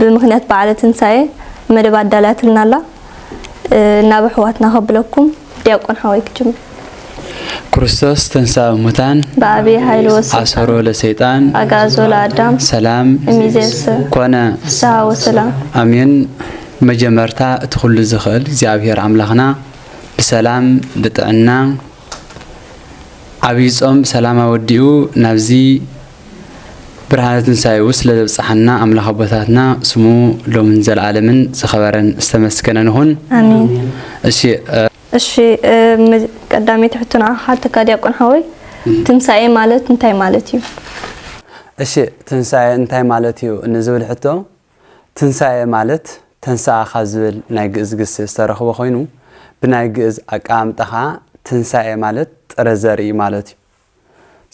ብምክንያት በዓለ ትንሳኤ መደብ ኣዳልያትልና ኣላ ናብ ኣሕዋትና ከብለኩም ዲያቆን ሓወይ ክጅምር ክርስቶስ ተንሥአ እሙታን በአብይ ኃይል ወሥልጣን አሰሮ ለሰይጣን አግዓዞ ለአዳም ሰላም እምይእዜሰ ኮነ ፍስሐ ወሰላም ኣሜን። መጀመርታ እቲ ኩሉ ዝኽእል እግዚኣብሔር ኣምላኽና ብሰላም ብጥዕና ዓብይ ጾም ብሰላም ኣወዲኡ ናብዚ ብርሃነ ትንሳኤኡ ስለ ዘብጽሓና ኣምላኽ ኣቦታትና ስሙ ሎምን ዘልዓለምን ዝኸበረን ዝተመስገነን ይኹን። ኣሜን። እሺ እሺ ቀዳመይቲ ሕቶ ንዓኻ ሓተካ ዲያቆን ሓወይ ትንሳኤ ማለት እንታይ ማለት እዩ? እሺ ትንሳኤ እንታይ ማለት እዩ ንዝብል ሕቶ ትንሳኤ ማለት ተንስኣ ካብ ዝብል ናይ ግእዝ ግሲ ዝተረኽበ ኮይኑ ብናይ ግእዝ ኣቀማምጣ ከዓ ትንሳኤ ማለት ጥረ ዘርኢ ማለት እዩ።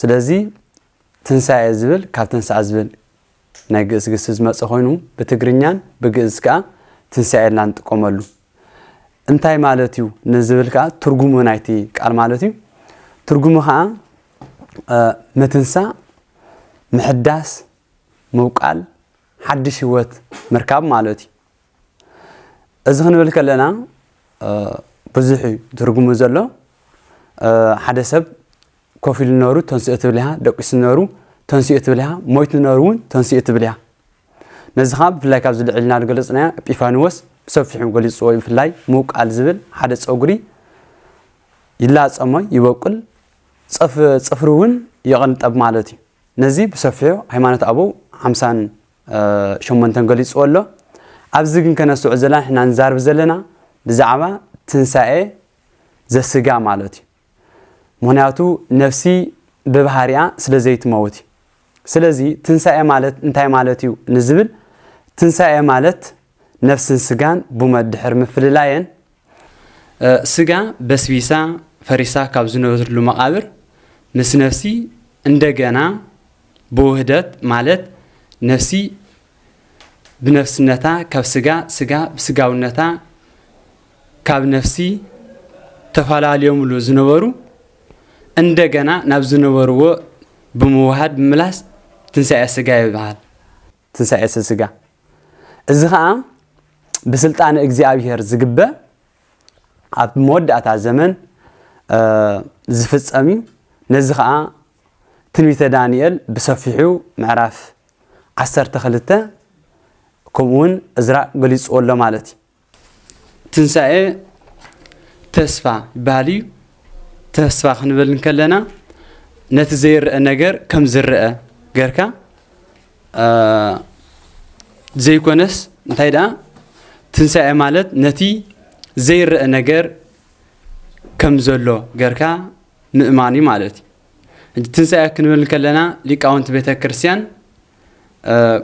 ስለዚ ትንሳኤ ዝብል ካብ ተንሥኣ ዝብል ናይ ግእዝ ግሲ ዝመጸ ኮይኑ ብትግርኛን ብግእዝ ከኣ ትንሳኤ ኢልና ንጥቀመሉ። እንታይ ማለት እዩ ንዝብል ከኣ ትርጉሙ ናይቲ ቃል ማለት እዩ። ትርጉሙ ከኣ ምትንሳእ፣ ምሕዳስ፣ ምውቃል፣ ሓድሽ ህይወት ምርካብ ማለት እዩ። እዚ ክንብል ከለና ብዙሕ እዩ ትርጉሙ ዘሎ ሓደ ሰብ ኮፍ ኢሉ ነሩ ተንስኦ ትብል ኢኻ ደቂሱ ነሩ ተንስኦ ትብል ኢኻ ሞይቱ ነሩ እውን ተንስኦ ትብል ኢኻ ነዚ ከዓ ብፍላይ ካብዚ ልዕል ኢልና ዝገለፅናዮ ጲፋንዎስ ብሰፊሑ ገሊፅዎ ብፍላይ ምውቃል ዝብል ሓደ ፀጉሪ ይላፀሞ ይበቁል ፅፍሪ እውን ይቕንጠብ ማለት እዩ ነዚ ብሰፊሑ ሃይማኖት ኣበው ሓምሳን ሸሞንተ ገሊጽዎ ኣሎ ኣብዚ ግን ከነስተውዕል ዘለና ንሕና ንዛርብ ዘለና ብዛዕባ ትንሳኤ ዘስጋ ማለት እዩ ምክንያቱ ነፍሲ ብባህሪኣ ስለ ዘይትመውት እዩ ስለዚ ትንሳኤ ማለት እንታይ ማለት እዩ ንዝብል ትንሳኤ ማለት ነፍስን ስጋን ብመድሕር ምፍልላየን ስጋ በስቢሳ ፈሪሳ ካብ ዝነበትሉ መቓብር ምስ ነፍሲ እንደገና ብውህደት ማለት ነፍሲ ብነፍስነታ ካብ ስጋ ስጋ ብስጋውነታ ካብ ነፍሲ ተፈላለዮምሉ ዝነበሩ እንደገና ናብ ዝነበርዎ ብምውሃድ ምምላስ ትንሳኤ ስጋ ይበሃል። ትንሳኤ ስጋ እዚ ኸዓ ብስልጣን እግዚኣብሔር ዝግበ ኣብ መወዳእታ ዘመን ዝፍጸም እዩ ነዚ ኸዓ ትንቢተ ዳንኤል ብሰፊሑ ምዕራፍ ዓሰርተ ክልተ ከምኡውን እዝራ ገሊጽዎ ኣሎ ማለት እዩ ትንሳኤ ተስፋ ይበሃል እዩ። ተስፋ ክንብል እንከለና ነቲ ዘይረአ ነገር ከም ዝረአ ገርካ ዘይኮነስ እንታይ ደኣ ትንሳኤ ማለት ነቲ ዘይረአ ነገር ከም ዘሎ ገርካ ምእማን እዩ ማለት እዩ ትንሳኤ ክንብል ከለና ሊቃውንቲ ቤተ ክርስቲያን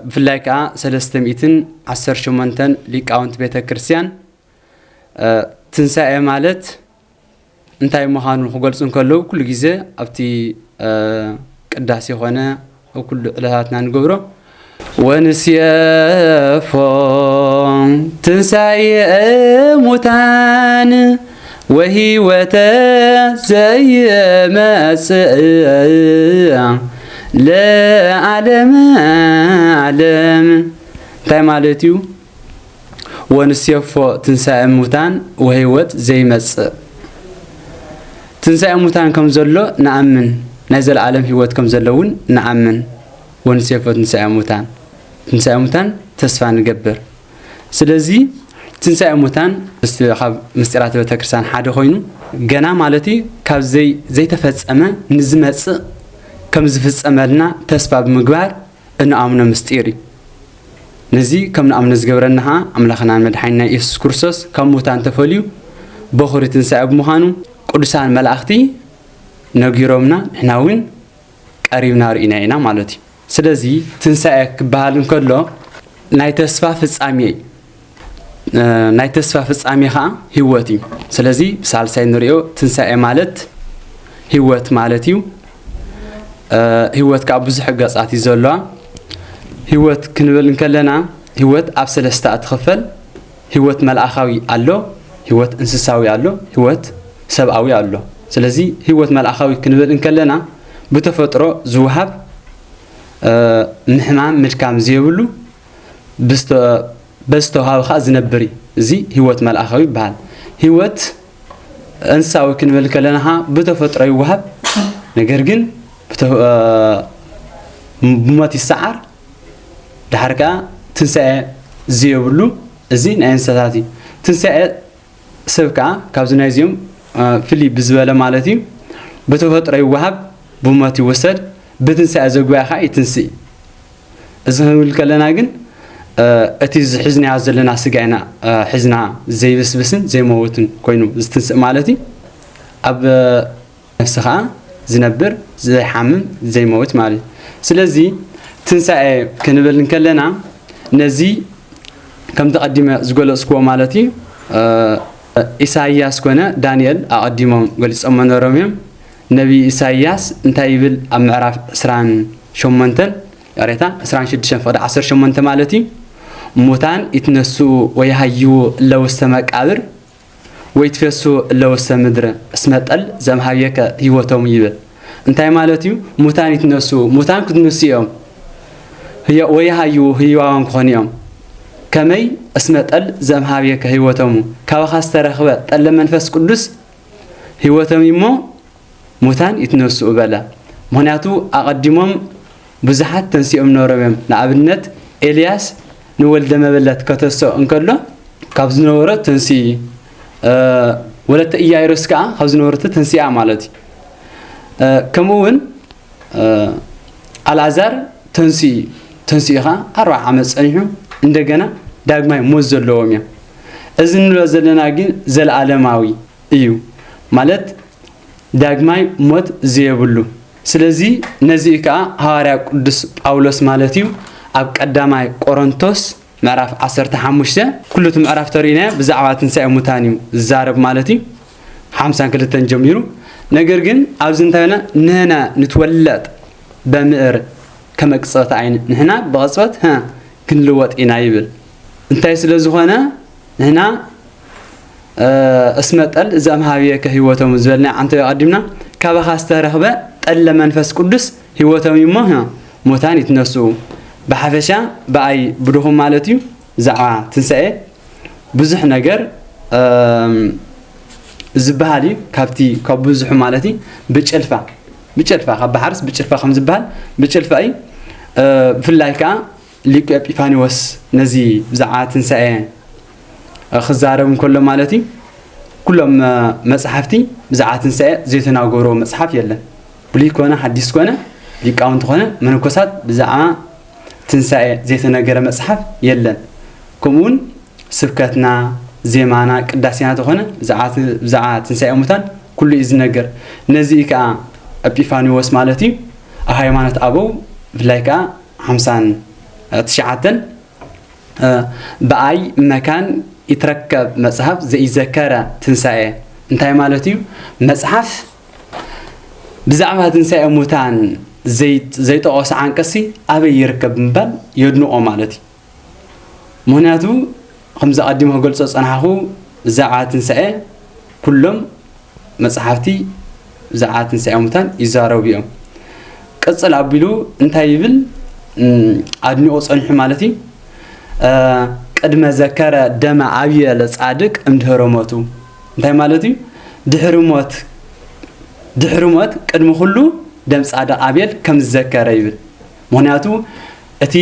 ብፍላይ ከኣ ሰለስተ ሚእትን ዓሰርተ ሸሞንተን ሊቃውንቲ ቤተ ክርስቲያን ትንሣኤ ማለት እንታይ ምዃኑ ክገልጹ እንከለዉ ኩሉ ግዜ ኣብቲ ቅዳሴ ኾነ ኣብ ኩሉ ዕለታትና ንገብሮ ወንስየፎ ትንሣኤ ሙታን ወህይወተ ዘይመጽእ ለዓለመ ዓለም እንታይ ማለት እዩ? ወንሴፎ ትንሣኤ ሙታን ወህይወት ዘይመጽእ ትንሣኤ ሙታን ከም ዘሎ ንኣምን ናይ ዘለዓለም ህይወት ከም ዘሎ እውን ንኣምን ወንሴፎ ትንሣኤ ሙታን ትንሣኤ ሙታን ተስፋ ንገብር ስለዚ ትንሳኤ ሙታን ካብ ምስጢራት ቤተክርስትያን ሓደ ኮይኑ ገና ማለት እዩ ካብ ዘይተፈጸመ ንዝመጽእ ከም ዝፍጸመልና ተስፋ ብምግባር እንኣምኖ ምስጢር እዩ። ነዚ ከም ንኣምኖ ዝገብረና ኸዓ ኣምላኽናን መድሓኒና ኢየሱስ ክርስቶስ ካብ ሙታን ተፈልዩ በኹሪ ትንሣኤ ብምዃኑ ቅዱሳን መላእኽቲ ነጊሮምና ንሕና እውን ቀሪብና ርኢና ኢና ማለት እዩ። ስለዚ ትንሳኤ ክበሃል እንከሎ ናይ ተስፋ ፍጻሜ እዩ። ናይ ተስፋ ፍጻሜ ኸዓ ህይወት እዩ። ስለዚ ብሳልሳይ ንሪኦ ትንሳኤ ማለት ህይወት ማለት እዩ። ህይወት ከዓ ብዙሕ ገጻት እዩ ዘለዋ። ህይወት ክንብል እንከለና ህይወት ኣብ ሰለስተ ትኽፈል። ህይወት መልኣካዊ ኣሎ፣ ህይወት እንስሳዊ ኣሎ፣ ህይወት ሰብኣዊ ኣሎ። ስለዚ ህይወት መልኣካዊ ክንብል እንከለና ብተፈጥሮ ዝወሃብ ምሕማም ምድካም ዘይብሉ በዝተዋሃበ ከዓ ዝነብር እዩ። እዚ ህይወት መልኣካዊ ይበሃል። ህይወት እንስሳዊ ክንብል ከለና ከዓ ብተፈጥሮ ይወሃብ ነገር ግን ብሞት ይሰዓር ድሓር ከኣ ትንሳኤ ዘየብሉ እዚ ናይ እንስሳታት እዩ ትንሳኤ ሰብ ከኣ ካብዚ ናይዚኦም ፍሊ ብዝበለ ማለት እዩ ብተፈጥሮ ይወሃብ ብሞት ይወሰድ ብትንሳኤ ዘጉባኤ ከኣ ይትንስእ እዚ ክንብል ከለና ግን እቲ ዝሕዝናዮ ዘለና ስጋ ኢና ሕዝና ዘይብስብስን ዘይመውትን ኮይኑ ዝትንስእ ማለት እዩ ኣብ ነፍሲ ከኣ ዝነብር ዘይሓምም ዘይመውት ማለት እዩ ስለዚ ትንሳኤ ክንብል እንከለና ነዚ ከምቲ ቀዲመ ዝገለጽክዎ ማለት እዩ ኢሳይያስ ኮነ ዳንኤል ኣቐዲሞም ገሊጾሞ ነሮም እዮም ነቢ ኢሳይያስ እንታይ ይብል ኣብ ምዕራፍ 28 ይቕሬታ 26 ፍቕዲ 18 ማለት እዩ ሙታን ይትነስኡ ወይሃይዉ ለውስተ መቃብር ወይትፌሱ እለ ውስተ ምድር፣ እስመ ጠል ዘእምኀቤከ ሕይወቶሙ ይብል። እንታይ ማለት እዩ? ሙታን ይትነሱ፣ ሙታን ክትንሱ እዮም፣ ወይሃዩ ህያዋን ክኾኑ እዮም። ከመይ? እስመ ጠል ዘእምኀቤከ ሕይወቶሙ፣ ካባኻ ዝተረኽበ ጠለ መንፈስ ቅዱስ ሕይወቶም እዩ እሞ፣ ሙታን ይትነስኡ በለ ምክንያቱ ኣቀዲሞም ብዙሓት ተንሲኦም ነሮም እዮም ንኣብነት ኤልያስ ንወልደ መበለት ከተሰኦ እንከሎ ካብ ዝነበሮ ተንሲ ወለተ ኢያይሮስ ከኣ ካብ ዝነበረቶ ተንሲኣ ማለት እዩ ከምኡውን ኣልኣዛር ተንሲ ተንስኡ ከዓ ኣርባ ዓመት ፀኒሑ እንደገና ዳግማይ ሞት ዘለዎም እዮም እዚ ንብሎ ዘለና ግን ዘለኣለማዊ እዩ ማለት ዳግማይ ሞት ዘየብሉ ስለዚ ነዚ እዩ ከኣ ሃዋርያ ቅዱስ ጳውሎስ ማለት እዩ ኣብ ቀዳማይ ቆሮንቶስ ምዕራፍ ዓሰርተ ሓሙሽተ ኩሉ እቲ ምዕራፍ ተርእዩናዮ ብዛዕባ ትንሳኤ ሙታን እዩ ዝዛረብ ማለት እዩ ሓምሳን ክልተን ጀሚሩ ነገር ግን ኣብዚ እንታይ ና ንህና ንትወለጥ በምእር ከመቅጽበት ዓይን ንሕና ብቐጽበት ክንልወጥ ኢና ይብል እንታይ ስለ ዝኾነ ንሕና እስመ ጠል ዘእምኀቤከ ሕይወቶሙ ዝበልናዮ ዓንተዮ ኣቀዲምና ካባኻ ዝተረኽበ ጠለ መንፈስ ቅዱስ ሕይወቶም እዩ እሞ ሙታን ይትነስኡ ብሓፈሻ ብኣይ ብድኹም ማለት እዩ ብዛዕባ ትንሣኤ ብዙሕ ነገር ዝበሃል እዩ ካብቲ ካብ ብዙሑ ማለት እዩ ብጭልፋ ብጭልፋ ካብ ባሕርስ ብጭልፋ ከም ዝበሃል ብጭልፋ እዩ ብፍላይ ከዓ ሊቁ ኤጲፋንዎስ ነዚ ብዛዕባ ትንሳኤ ክዛረብ እንከሎ ማለት እዩ ኩሎም መጽሓፍቲ ብዛዕባ ትንሳኤ ዘይተናገርዎ መጽሓፍ የለን ብሉይ ኮነ ሓዲስ ኮነ ሊቃውንቲ ኮነ መነኮሳት ብዛዕባ ትንሳኤ ዘይተነገረ መጽሓፍ የለን ከምኡውን ስብከትና ዜማና ቅዳሴና ተኾነ ብዛዕባ ትንሳኤ ሙታን ኩሉ እዩ ዝነገር ነዚ ከዓ ኤጲፋንዎስ ማለት እዩ ኣብ ሃይማኖት ኣበው ብፍላይ ከዓ ሓምሳን ትሽዓተን ብኣይ መካን ይትረከብ መጽሐፍ ዘኢዘከረ ትንሣኤ እንታይ ማለት እዩ? መጽሓፍ ብዛዕባ ትንሣኤ ሙታን ዘይጠቐሱ ዓንቀሲ ኣበይ ይርከብ ምባል የድንቖ ማለት እዩ። ምኽንያቱ ከምዚ ኣቐዲመ ክገልጾ ዝጸናሕኹ ብዛዕባ ትንሳኤ ኩሎም መጽሓፍቲ ብዛዕባ ትንሳኤ ሙታን ይዛረቡ እዮም። ቅጽል ኣቢሉ እንታይ ይብል ኣድኒኦ ጸኒሑ ማለት እዩ ቅድመ ዘከረ ደመ ኣብየ ለጻድቅ እምድህረ ሞቱ እንታይ ማለት እዩ ድሕሪ ሞት ድሕሪ ሞት ቅድሚ ኩሉ ደም ጻድቅ ኣቤል ከም ዝዘከረ ይብል ምክንያቱ እቲ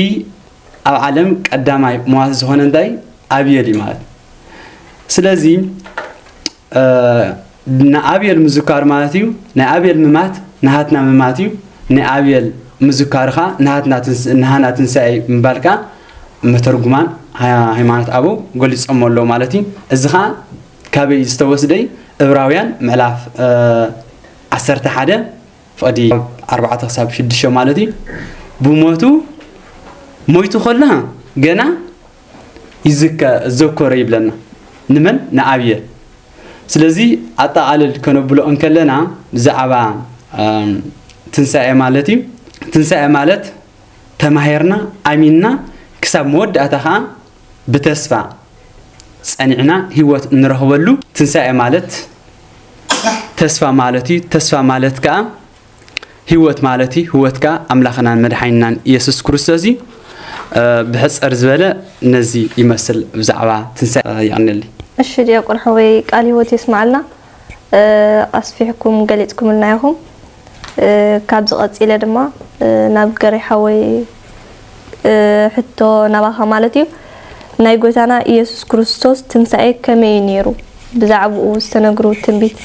ኣብ ዓለም ቀዳማይ መዋቲ ዝኾነ እንታይ ኣብየል እዩ ማለት ስለዚ ንኣብየል ምዝካር ማለት እዩ ናይ ኣብየል ምማት ንሃትና ምማት እዩ ናይ ኣብየል ምዝካርካ ንሃና ትንሳኤ ምባልካ መተርጉማን ሃይማኖት ኣበው ገሊፆሞ ኣለዉ ማለት እዩ እዚ ከዓ ካበይ ዝተወስደይ እብራውያን ምዕላፍ ዓሰርተ ሓደ ፍቕዲ ኣርባዕተ ክሳብ ሽዱሽተ ማለት እዩ ብሞቱ ሞይቱ ከሎ ገና ይዘከሮ ይብለና ንመን ንኣብየ ስለዚ ኣጠቓልል ከነብሎ እንከለና ብዛዕባ ትንሳኤ ማለት እዩ ትንሳኤ ማለት ተማሂርና ኣሚንና ክሳብ መወዳእታ ከዓ ብተስፋ ጸኒዕና ህይወት እንረኽበሉ ትንሳኤ ማለት ተስፋ ማለት እዩ ተስፋ ማለት ከኣ ህይወት ማለት እዩ ህይወት ከኣ ኣምላኽናን መድሓኒናን ኢየሱስ ክርስቶስ እዩ ብሕጽር ዝበለ ነዚ ይመስል ብዛዕባ ትንሳኤ ይቕንልይ እሺ ዲያቆን ሓወይ ቃል ህይወት የስማዓልና ኣስፊሕኩም ገሊጽኩምልና ኢኹም ካብዚ ቀጺለ ድማ ናብ ገሬ ሓወይ ሕቶ ናባኻ ማለት እዩ ናይ ጎይታና ኢየሱስ ክርስቶስ ትንሳኤ ከመይ እዩ ነይሩ ብዛዕባኡ ዝተነግሩ ትንቢት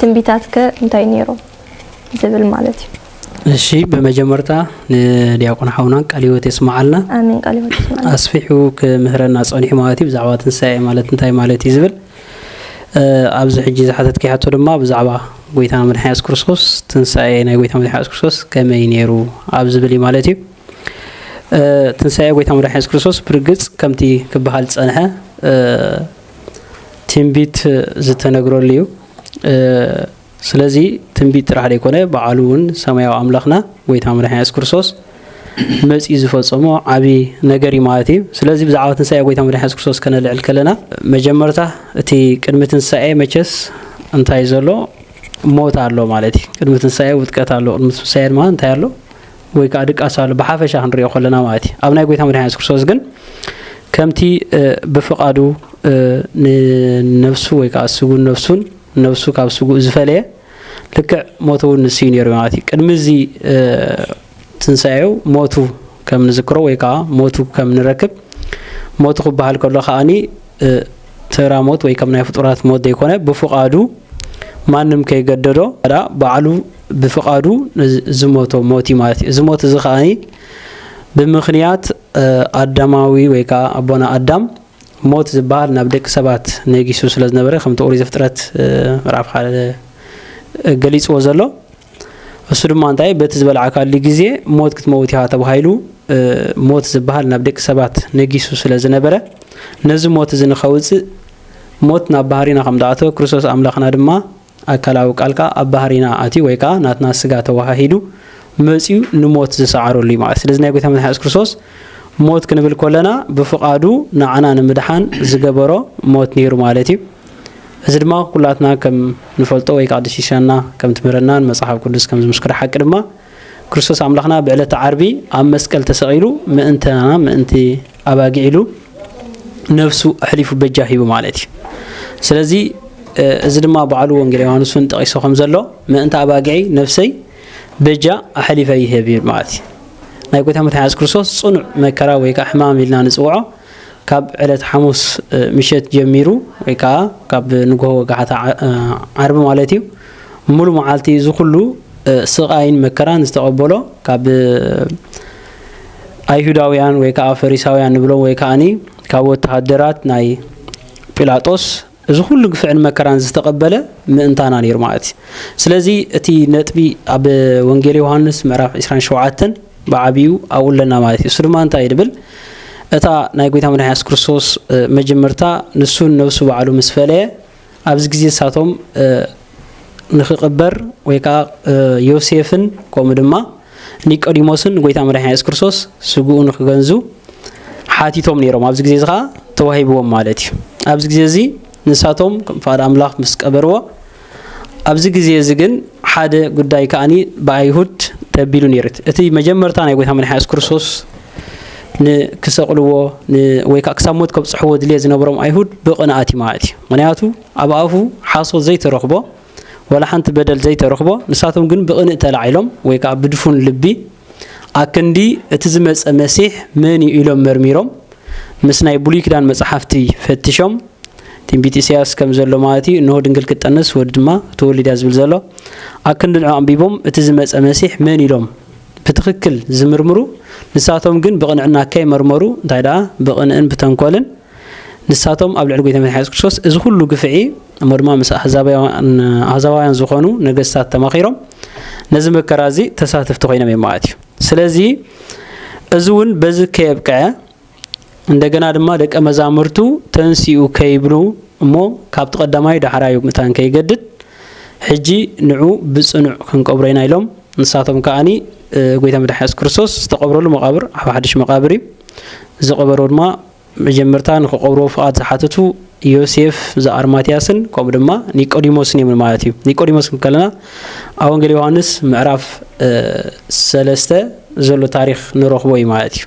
ትንቢታት ከ እንታይ ነይሩ ዝብል ማለት እዩ እሺ ብመጀመርታ ንዲያቆን ሓውና ቃል ህይወት የስማዓልና ኣሜን ቃል ህይወት የስማዓልና ኣስፊሑ ክምህረና ጸኒሑ ማለት እዩ ብዛዕባ ትንሳኤ ማለት እንታይ ማለት እዩ ዝብል ኣብዚ ሕጂ ዝሓተትኪ ሕቶ ድማ ብዛዕባ ጎይታና መድሓኒና የሱስ ክርስቶስ ትንሳኤ ናይ ጎይታ መድሓኒና የሱስ ክርስቶስ ከመይ ነይሩ ኣብ ዝብል እዩ ማለት እዩ ትንሳኤ ጎይታ መድሓኒ የሱስ ክርስቶስ ብርግጽ ከምቲ ክበሃል ዝጸንሐ ትንቢት ዝተነግረሉ እዩ ስለዚ ትንቢት ጥራሕ ደይኮነ በዓሉ እውን ሰማያዊ ኣምላኽና ጎይታ መድሓኒና የሱስ ክርስቶስ መጺኡ ዝፈጸሞ ዓቢ ነገር እዩ ማለት እዩ ስለዚ ብዛዕባ ትንሳኤ ጎይታ መድሓኒ የሱስ ክርስቶስ ከነልዕል ከለና መጀመርታ እቲ ቅድሚ ትንሳኤ መቸስ እንታይ ዘሎ ሞት ኣሎ ማለት እዩ ቅድሚ ትንሳኤ ውጥቀት ኣሎ ቅድሚ ትንሳኤ ድማ እንታይ ኣሎ ወይ ከዓ ድቃስ ኣሎ ብሓፈሻ ክንሪኦ ከለና ማለት እዩ ኣብ ናይ ጎይታ መድሓኒ የሱስ ክርስቶስ ግን ከምቲ ብፍቓዱ ንነፍሱ ወይ ከዓ ስጉን ነፍሱን ነብሱ ካብ ስጉእ ዝፈለየ ልክዕ ሞቱ እውን ንስዩ ነይሩ ማለት እዩ ቅድሚ እዚ ትንሳኤው ሞቱ ከም ንዝክሮ ወይ ከዓ ሞቱ ከም ንረክብ ሞቱ ክበሃል ከሎ ከዓኒ ተራ ሞት ወይ ከም ናይ ፍጡራት ሞት ዘይኮነ ብፍቃዱ ማንም ከይገደዶ ዳ ባዕሉ ብፍቃዱ ዝሞቶ ሞት እዩ ማለት እዩ እዚ ሞት እዚ ከዓኒ ብምክንያት ኣዳማዊ ወይ ከዓ ኣቦና ኣዳም ሞት ዝበሃል ናብ ደቂ ሰባት ነጊሱ ስለ ዝነበረ ከምቲ ኦሪት ዘፍጥረት ምዕራፍ ሓደ ገሊጽዎ ዘሎ እሱ ድማ እንታይ በቲ ዝበልዓካሉ ግዜ ሞት ክትመውት ኢኻ ተባሂሉ ሞት ዝበሃል ናብ ደቂ ሰባት ነጊሱ ስለ ዝነበረ ነዚ ሞት እዚ ንኸውጽእ ሞት ናብ ባህሪና ከም ዝኣተወ ክርስቶስ ኣምላኽና ድማ ኣካላዊ ቃልካ ኣብ ባህሪና ኣትዩ ወይ ከኣ ናትና ስጋ ተወሃሂዱ መጺኡ ንሞት ዝሰዓረሉ እዩ ማለት። ስለዚ ናይ ጎይታ መድሓኒና የሱስ ክርስቶስ ሞት ክንብል ኮለና ብፍቃዱ ንዓና ንምድሓን ዝገበሮ ሞት ነይሩ ማለት እዩ። እዚ ድማ ኩላትና ከም ንፈልጦ ወይ ከኣ ድሽሻና ከም ትምህረናን መጽሓፍ ቅዱስ ከም ዝምስክሮ ሓቂ ድማ ክርስቶስ ኣምላኽና ብዕለተ ዓርቢ ኣብ መስቀል ተሰቂሉ ምእንታና ምእንቲ ኣባጊዕ ኢሉ ነብሱ ኣሕሊፉ በጃ ሂቡ ማለት እዩ ስለዚ እዚ ድማ ባዕሉ ወንጌል ዮሃንስ እውን ጠቂሶ ከም ዘሎ ምእንቲ ኣባጊዐይ ነፍሰይ በጃ ኣሕሊፈ ይህብ ይብል ማለት እዩ ናይ ጎይታ መትሓዝ ክርስቶስ ፅኑዕ መከራ ወይ ከዓ ሕማም ኢልና ንፅውዖ ካብ ዕለት ሓሙስ ምሸት ጀሚሩ ወይ ከዓ ካብ ንግሆ ወጋሕታ ዓርቢ ማለት እዩ ሙሉ መዓልቲ እዚ ኩሉ ስቃይን መከራን ዝተቐበሎ ካብ ኣይሁዳውያን ወይ ከኣ ፈሪሳውያን ንብሎም ወይ ከኣኒ ካብ ወተሃደራት ናይ ጲላጦስ እዚ ኩሉ ግፍዕን መከራን ዝተቐበለ ምእንታና ነይሩ ማለት እዩ። ስለዚ እቲ ነጥቢ ኣብ ወንጌል ዮሃንስ ምዕራፍ 27 ብዓብዩ ኣብኡ ኣለና ማለት እዩ። እሱ ድማ እንታይ እዩ ድብል እታ ናይ ጎይታ መድሓኒ የሱስ ክርስቶስ መጀመርታ ንሱን ነብሱ ባዕሉ ምስ ፈለየ ኣብዚ ግዜ ንሳቶም ንክቕበር ወይ ከኣ ዮሴፍን ከምኡ ድማ ኒቆዲሞስን ንጎይታ መድሓኒና የሱስ ክርስቶስ ስግኡ ንክገንዙ ሓቲቶም ነይሮም ኣብዚ ግዜ እዚ ከዓ ተዋሂብዎም ማለት እዩ ኣብዚ ግዜ እዚ ንሳቶም ከም ፍቓድ ኣምላኽ ምስ ቀበርዎ ኣብዚ ግዜ እዚ ግን ሓደ ጉዳይ ከዓኒ ብኣይሁድ ተቢሉ ነይሩ እቲ መጀመርታ ናይ ጎይታ መድሓኒ የሱስ ክርስቶስ ንክሰቕልዎ ወይ ከዓ ክሳብ ሞት ከብፅሕዎ ድልየት ዝነበሮም ኣይሁድ ብቕንኣት እዩ ማለት እዩ ምክንያቱ ኣብ ኣፉ ሓሶት ዘይተረኽቦ ወላ ሓንቲ በደል ዘይተረኽቦ ንሳቶም ግን ብቕንእ ተላዒሎም ወይ ከዓ ብድፉን ልቢ ኣክንዲ እቲ ዝመፀ መሲሕ መን እዩ ኢሎም መርሚሮም ምስ ናይ ብሉይ ኪዳን መፅሓፍቲ ፈትሾም ትንቢት ኢሳያስ ከም ዘሎ ማለት እዩ እንሆ ድንግል ክጠንስ ወዲ ድማ ተወሊዳ ዝብል ዘሎ ኣክንዲ ንዑ ኣንቢቦም እቲ ዝመፀ መሲሕ መን ኢሎም ብትኽክል ዝምርምሩ ንሳቶም ግን ብቕንዕና ከይመርመሩ እንታይ ደኣ ብቕንእን ብተንኮልን ንሳቶም ኣብ ልዕሊ ጎይታ መድሓኒ የሱስ ክርስቶስ እዚ ኩሉ ግፍዒ እሞ ድማ ምስ ኣህዛባውያን ዝኾኑ ነገስታት ተማኺሮም ነዚ መከራ እዚ ተሳተፍቲ ኮይኖም እዮም ማለት እዩ ስለዚ እዚ እውን በዚ ከየብቅዐ እንደገና ድማ ደቀ መዛሙርቱ ተንሲኡ ከይብሉ እሞ ካብቲ ቀዳማይ ዳሕራዩ ምታን ከይገድድ ሕጂ ንዑ ብጽኑዕ ክንቀብሮ ኢና ኢሎም ንሳቶም ከዓኒ ጎይታ መድሓ የሱስ ክርስቶስ ዝተቐብረሉ መቓብር ኣብ ሓድሽ መቓብር እዩ ዝቐበሮ ድማ መጀመርታ ንክቐብርዎ ፍቓድ ዝሓተቱ ዮሴፍ ዘኣርማትያስን ከምኡ ድማ ኒቆዲሞስን እዮም ማለት እዩ ኒቆዲሞስ ከለና ኣብ ወንጌል ዮሃንስ ምዕራፍ ሰለስተ ዘሎ ታሪክ ንረኽቦ እዩ ማለት እዩ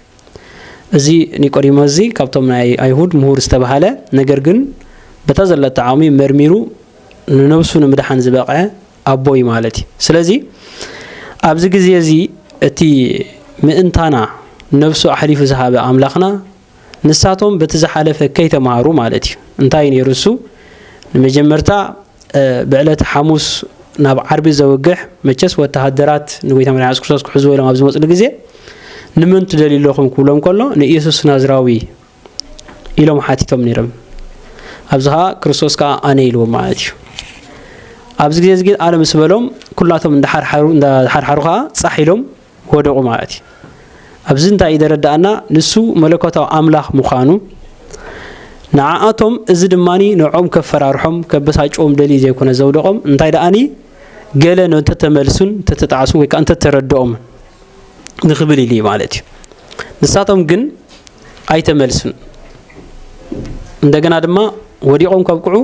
እዚ ኒቆዲሞስ እዚ ካብቶም ናይ ኣይሁድ ምሁር ዝተባህለ ነገር ግን በታ ዘለቶ ዓቕሚ መርሚሩ ንነብሱ ንምድሓን ዝበቕዐ ኣቦ እዩ ማለት እዩ ስለዚ ኣብዚ ግዜ እዚ እቲ ምእንታና ነብሱ ኣሕሊፉ ዝሃበ ኣምላኽና ንሳቶም በቲ ዝሓለፈ ከይተማሃሩ ማለት እዩ እንታይ ነይሩ እሱ ንመጀመርታ ብዕለተ ሓሙስ ናብ ዓርቢ ዘውግሕ መቸስ ወተሃደራት ንጎይታ መድሓኒ የሱስ ክርስቶስ ክሕዝዎ ኢሎም ኣብ ዝመፅሉ ግዜ ንመን ትደልዩ ኣለኹም ክብሎም ከሎ ንኢየሱስ ናዝራዊ ኢሎም ሓቲቶም ነይሮም ኣብዚ ከዓ ክርስቶስ ከዓ ኣነ ኢልዎ ማለት እዩ ኣብዚ ግዜ እዚ ግን ኣነ ምስ በሎም ኩላቶም እንዳሓርሓሩ እንዳሓርሓሩ ከዓ ፃሕ ኢሎም ወደቑ ማለት እዩ። ኣብዚ እንታይ እዩ ዘረድኣና? ንሱ መለኮታዊ ኣምላኽ ምዃኑ፣ ንዓኣቶም እዚ ድማ ንዕኦም ከፈራርሖም ከበሳጭዎም ደልዩ ዘይኮነ ዘውደቖም፣ እንታይ ደኣኒ ገለ እንተተመልሱን እንተተጣዕሱን ወይ ከኣ እንተተረድኦምን ንኽብል ኢሉ እዩ ማለት እዩ። ንሳቶም ግን ኣይተመልሱን። እንደገና ድማ ወዲቖም ከብቅዑ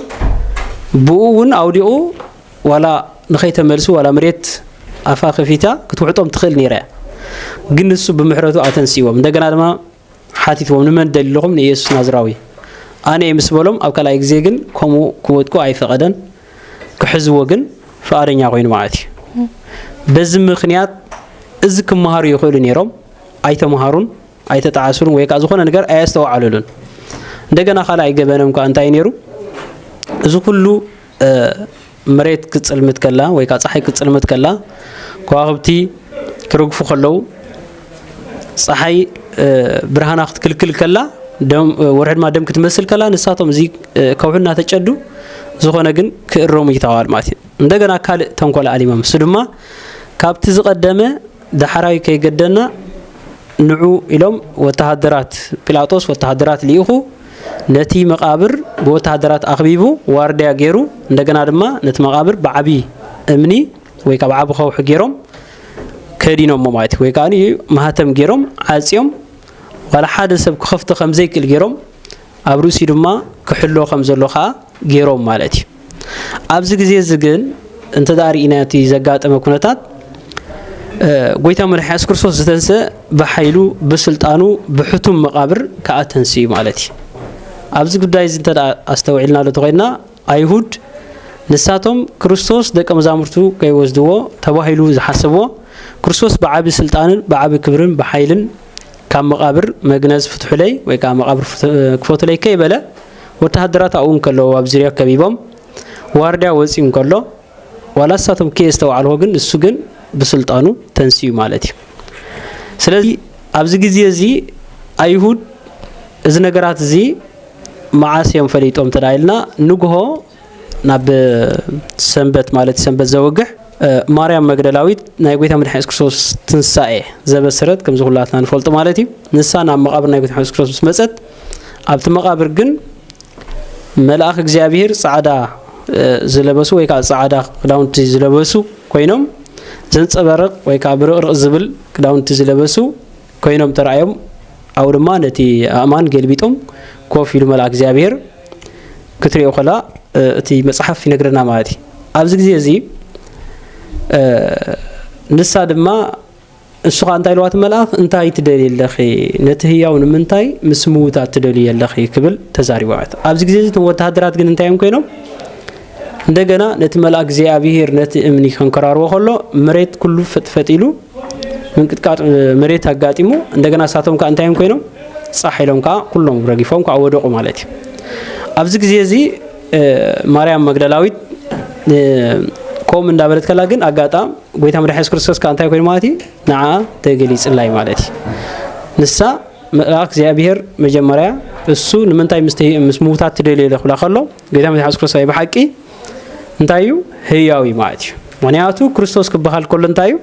ብኡ እውን ኣውዲቑ ዋላ ንኸይተመልሱ ዋላ መሬት ኣፋ ከፊታ ክትውሕጦም ትኽእል ነይራ እያ ግን ንሱ ብምሕረቱ ኣተንስዎም እንደገና ድማ ሓቲትዎም ንመን ደሊኹም ንኢየሱስ ናዝራዊ ኣነ ምስ በሎም ኣብ ካልኣይ ግዜ ግን ከምኡ ክወድቁ ኣይፈቐደን ክሕዝዎ ግን ፍቓደኛ ኮይኑ ማለት እዩ በዚ ምክንያት እዚ ክመሃሩ ይኽእሉ ነይሮም ኣይተምሃሩን ኣይተጣዓሱን ወይ ከዓ ዝኾነ ነገር ኣየስተውዓሉሉን እንደገና ካልኣይ ገበኖም ከዓ እንታይ ነይሩ እዚ ኩሉ መሬት ክትጽልምት ከላ ወይ ከዓ ፀሓይ ክትጽልምት ከላ ከዋኽብቲ ክርግፉ ከለው ፀሓይ ብርሃና ክትክልክል ከላ ወርሒ ድማ ደም ክትመስል ከላ ንሳቶም እዚ ከውሒ እናተጨዱ ዝኾነ ግን ክእረሙ ይተዋል ማለት እዩ እንደገና ካልእ ተንኮል ኣሊሞም እሱ ድማ ካብቲ ዝቐደመ ዳሕራዊ ከይገደና ንዑ ኢሎም ወተሃደራት ጲላጦስ ወተሃደራት ልኢኹ ነቲ መቓብር ብወተሃደራት ኣኽቢቡ ዋርድያ ጌሩ እንደገና ድማ ነቲ መቓብር ብዓቢ እምኒ ወይ ከኣ ብዓቢ ከውሒ ጌሮም ከዲኖሞ ማለት እዩ ወይ ከኣ ማህተም ጌሮም ዓጽዮም ዋላ ሓደ ሰብ ክኸፍቶ ከም ዘይክእል ጌሮም ኣብ ርእሲኡ ድማ ክሕሎ ከም ዘሎ ከኣ ጌሮም ማለት እዩ ኣብዚ ግዜ እዚ ግን እንተ ርኢና እቲ ዘጋጠመ ኩነታት ጎይታ መድሓ የሱስ ክርስቶስ ዝተንስአ ብሓይሉ ብስልጣኑ ብሕቱም መቓብር ከዓ ተንስኡ ማለት እዩ ኣብዚ ጉዳይ እዚ እንተ ኣስተውዒልና ዶ ተኮይንና ኣይሁድ ንሳቶም ክርስቶስ ደቀ መዛሙርቱ ከይወስድዎ ተባሂሉ ዝሓሰብዎ ክርስቶስ ብዓቢ ስልጣንን ብዓቢ ክብርን ብሓይልን ካብ መቓብር መግነዝ ፍትሑለይ ወይ ከዓ መቓብር ክፈቱለይ ከይበለ ወተሃደራት ኣብኡ እንከለዉ ኣብ ዙርያ ከቢቦም ዋርድያ ወጺኡ እንከሎ ዋላ ንሳቶም ከየስተውዓልዎ ግን ንሱ ግን ብስልጣኑ ተንስኡ ማለት እዩ ስለዚ ኣብዚ ግዜ እዚ ኣይሁድ እዚ ነገራት እዚ መዓስ እዮም ፈሊጦም እንተ ኢልና ንግሆ ናብ ሰንበት ማለት ሰንበት ዘወግሕ ማርያም መግደላዊት ናይ ጎይታ መድሓኒ የሱስ ክርስቶስ ትንሳኤ ዘበሰረት ከምዚ ኩላትና ንፈልጡ ማለት እዩ ንሳ ናብ መቓብር ናይ ጎይታ የሱስ ክርስቶስ ምስ መፀት ኣብቲ መቓብር ግን መልኣኽ እግዚኣብሄር ጻዕዳ ዝለበሱ ወይ ከዓ ጻዕዳ ክዳውንቲ ዝለበሱ ኮይኖም ዘንጸበርቕ ወይ ከዓ ብርቕርቕ ዝብል ክዳውንቲ ዝለበሱ ኰይኖም ተራእዮም፣ ኣብኡ ድማ ነቲ ኣእማን ገልቢጦም ኮፍ ኢሉ መልኣክ እግዚኣብሄር ክትሪኦ ከላ እቲ መጽሓፍ ይነግረና ማለት እዩ። ኣብዚ ግዜ እዚ ንሳ ድማ እሱ ከዓ እንታይ ኢልዋ እቲ መልኣኽ እንታይ ትደልዪ ኣለኺ ነቲ ህያው ንምንታይ ምስ ምዉታት ትደልዪ ኣለኺ ክብል ተዛሪቡ ማለት ኣብዚ ግዜ እዚ እቶም ወተሃደራት ግን እንታይ እዮም ኮይኖም እንደገና ነቲ መልኣ እግዚኣብሄር ነቲ እምኒ ከንከራርቦ ከሎ መሬት ኩሉ ፈጥፈጥ ኢሉ ምንቅጥቃጥ መሬት ኣጋጢሙ እንደገና እሳቶም ከዓ እንታይም ኮይኖም ፃሕ ኢሎም ከዓ ኩሎም ረጊፎም ከዓ ወደቁ ማለት እዩ ኣብዚ ግዜ እዚ ማርያም መግደላዊት ከምኡ እንዳበለት ከላ ግን ኣጋጣም ጎይታ መድሓ የሱስ ክርስቶስ ከዓ እንታይ ኮይኑ ማለት እዩ ንዓ ተገሊፅላይ ማለት እዩ ንሳ መልኣክ እግዚኣብሄር መጀመርያ እሱ ንምንታይ ምስ ምውታት ትደልዮ ኢለ ክብላ ከሎ ጌታ መድሓኒ የሱስ ክርስቶስ ብሓቂ እንታይ እዩ ህያው እዩ ማለት እዩ ምክንያቱ ክርስቶስ ክበሃል ከሎ እንታይ እዩ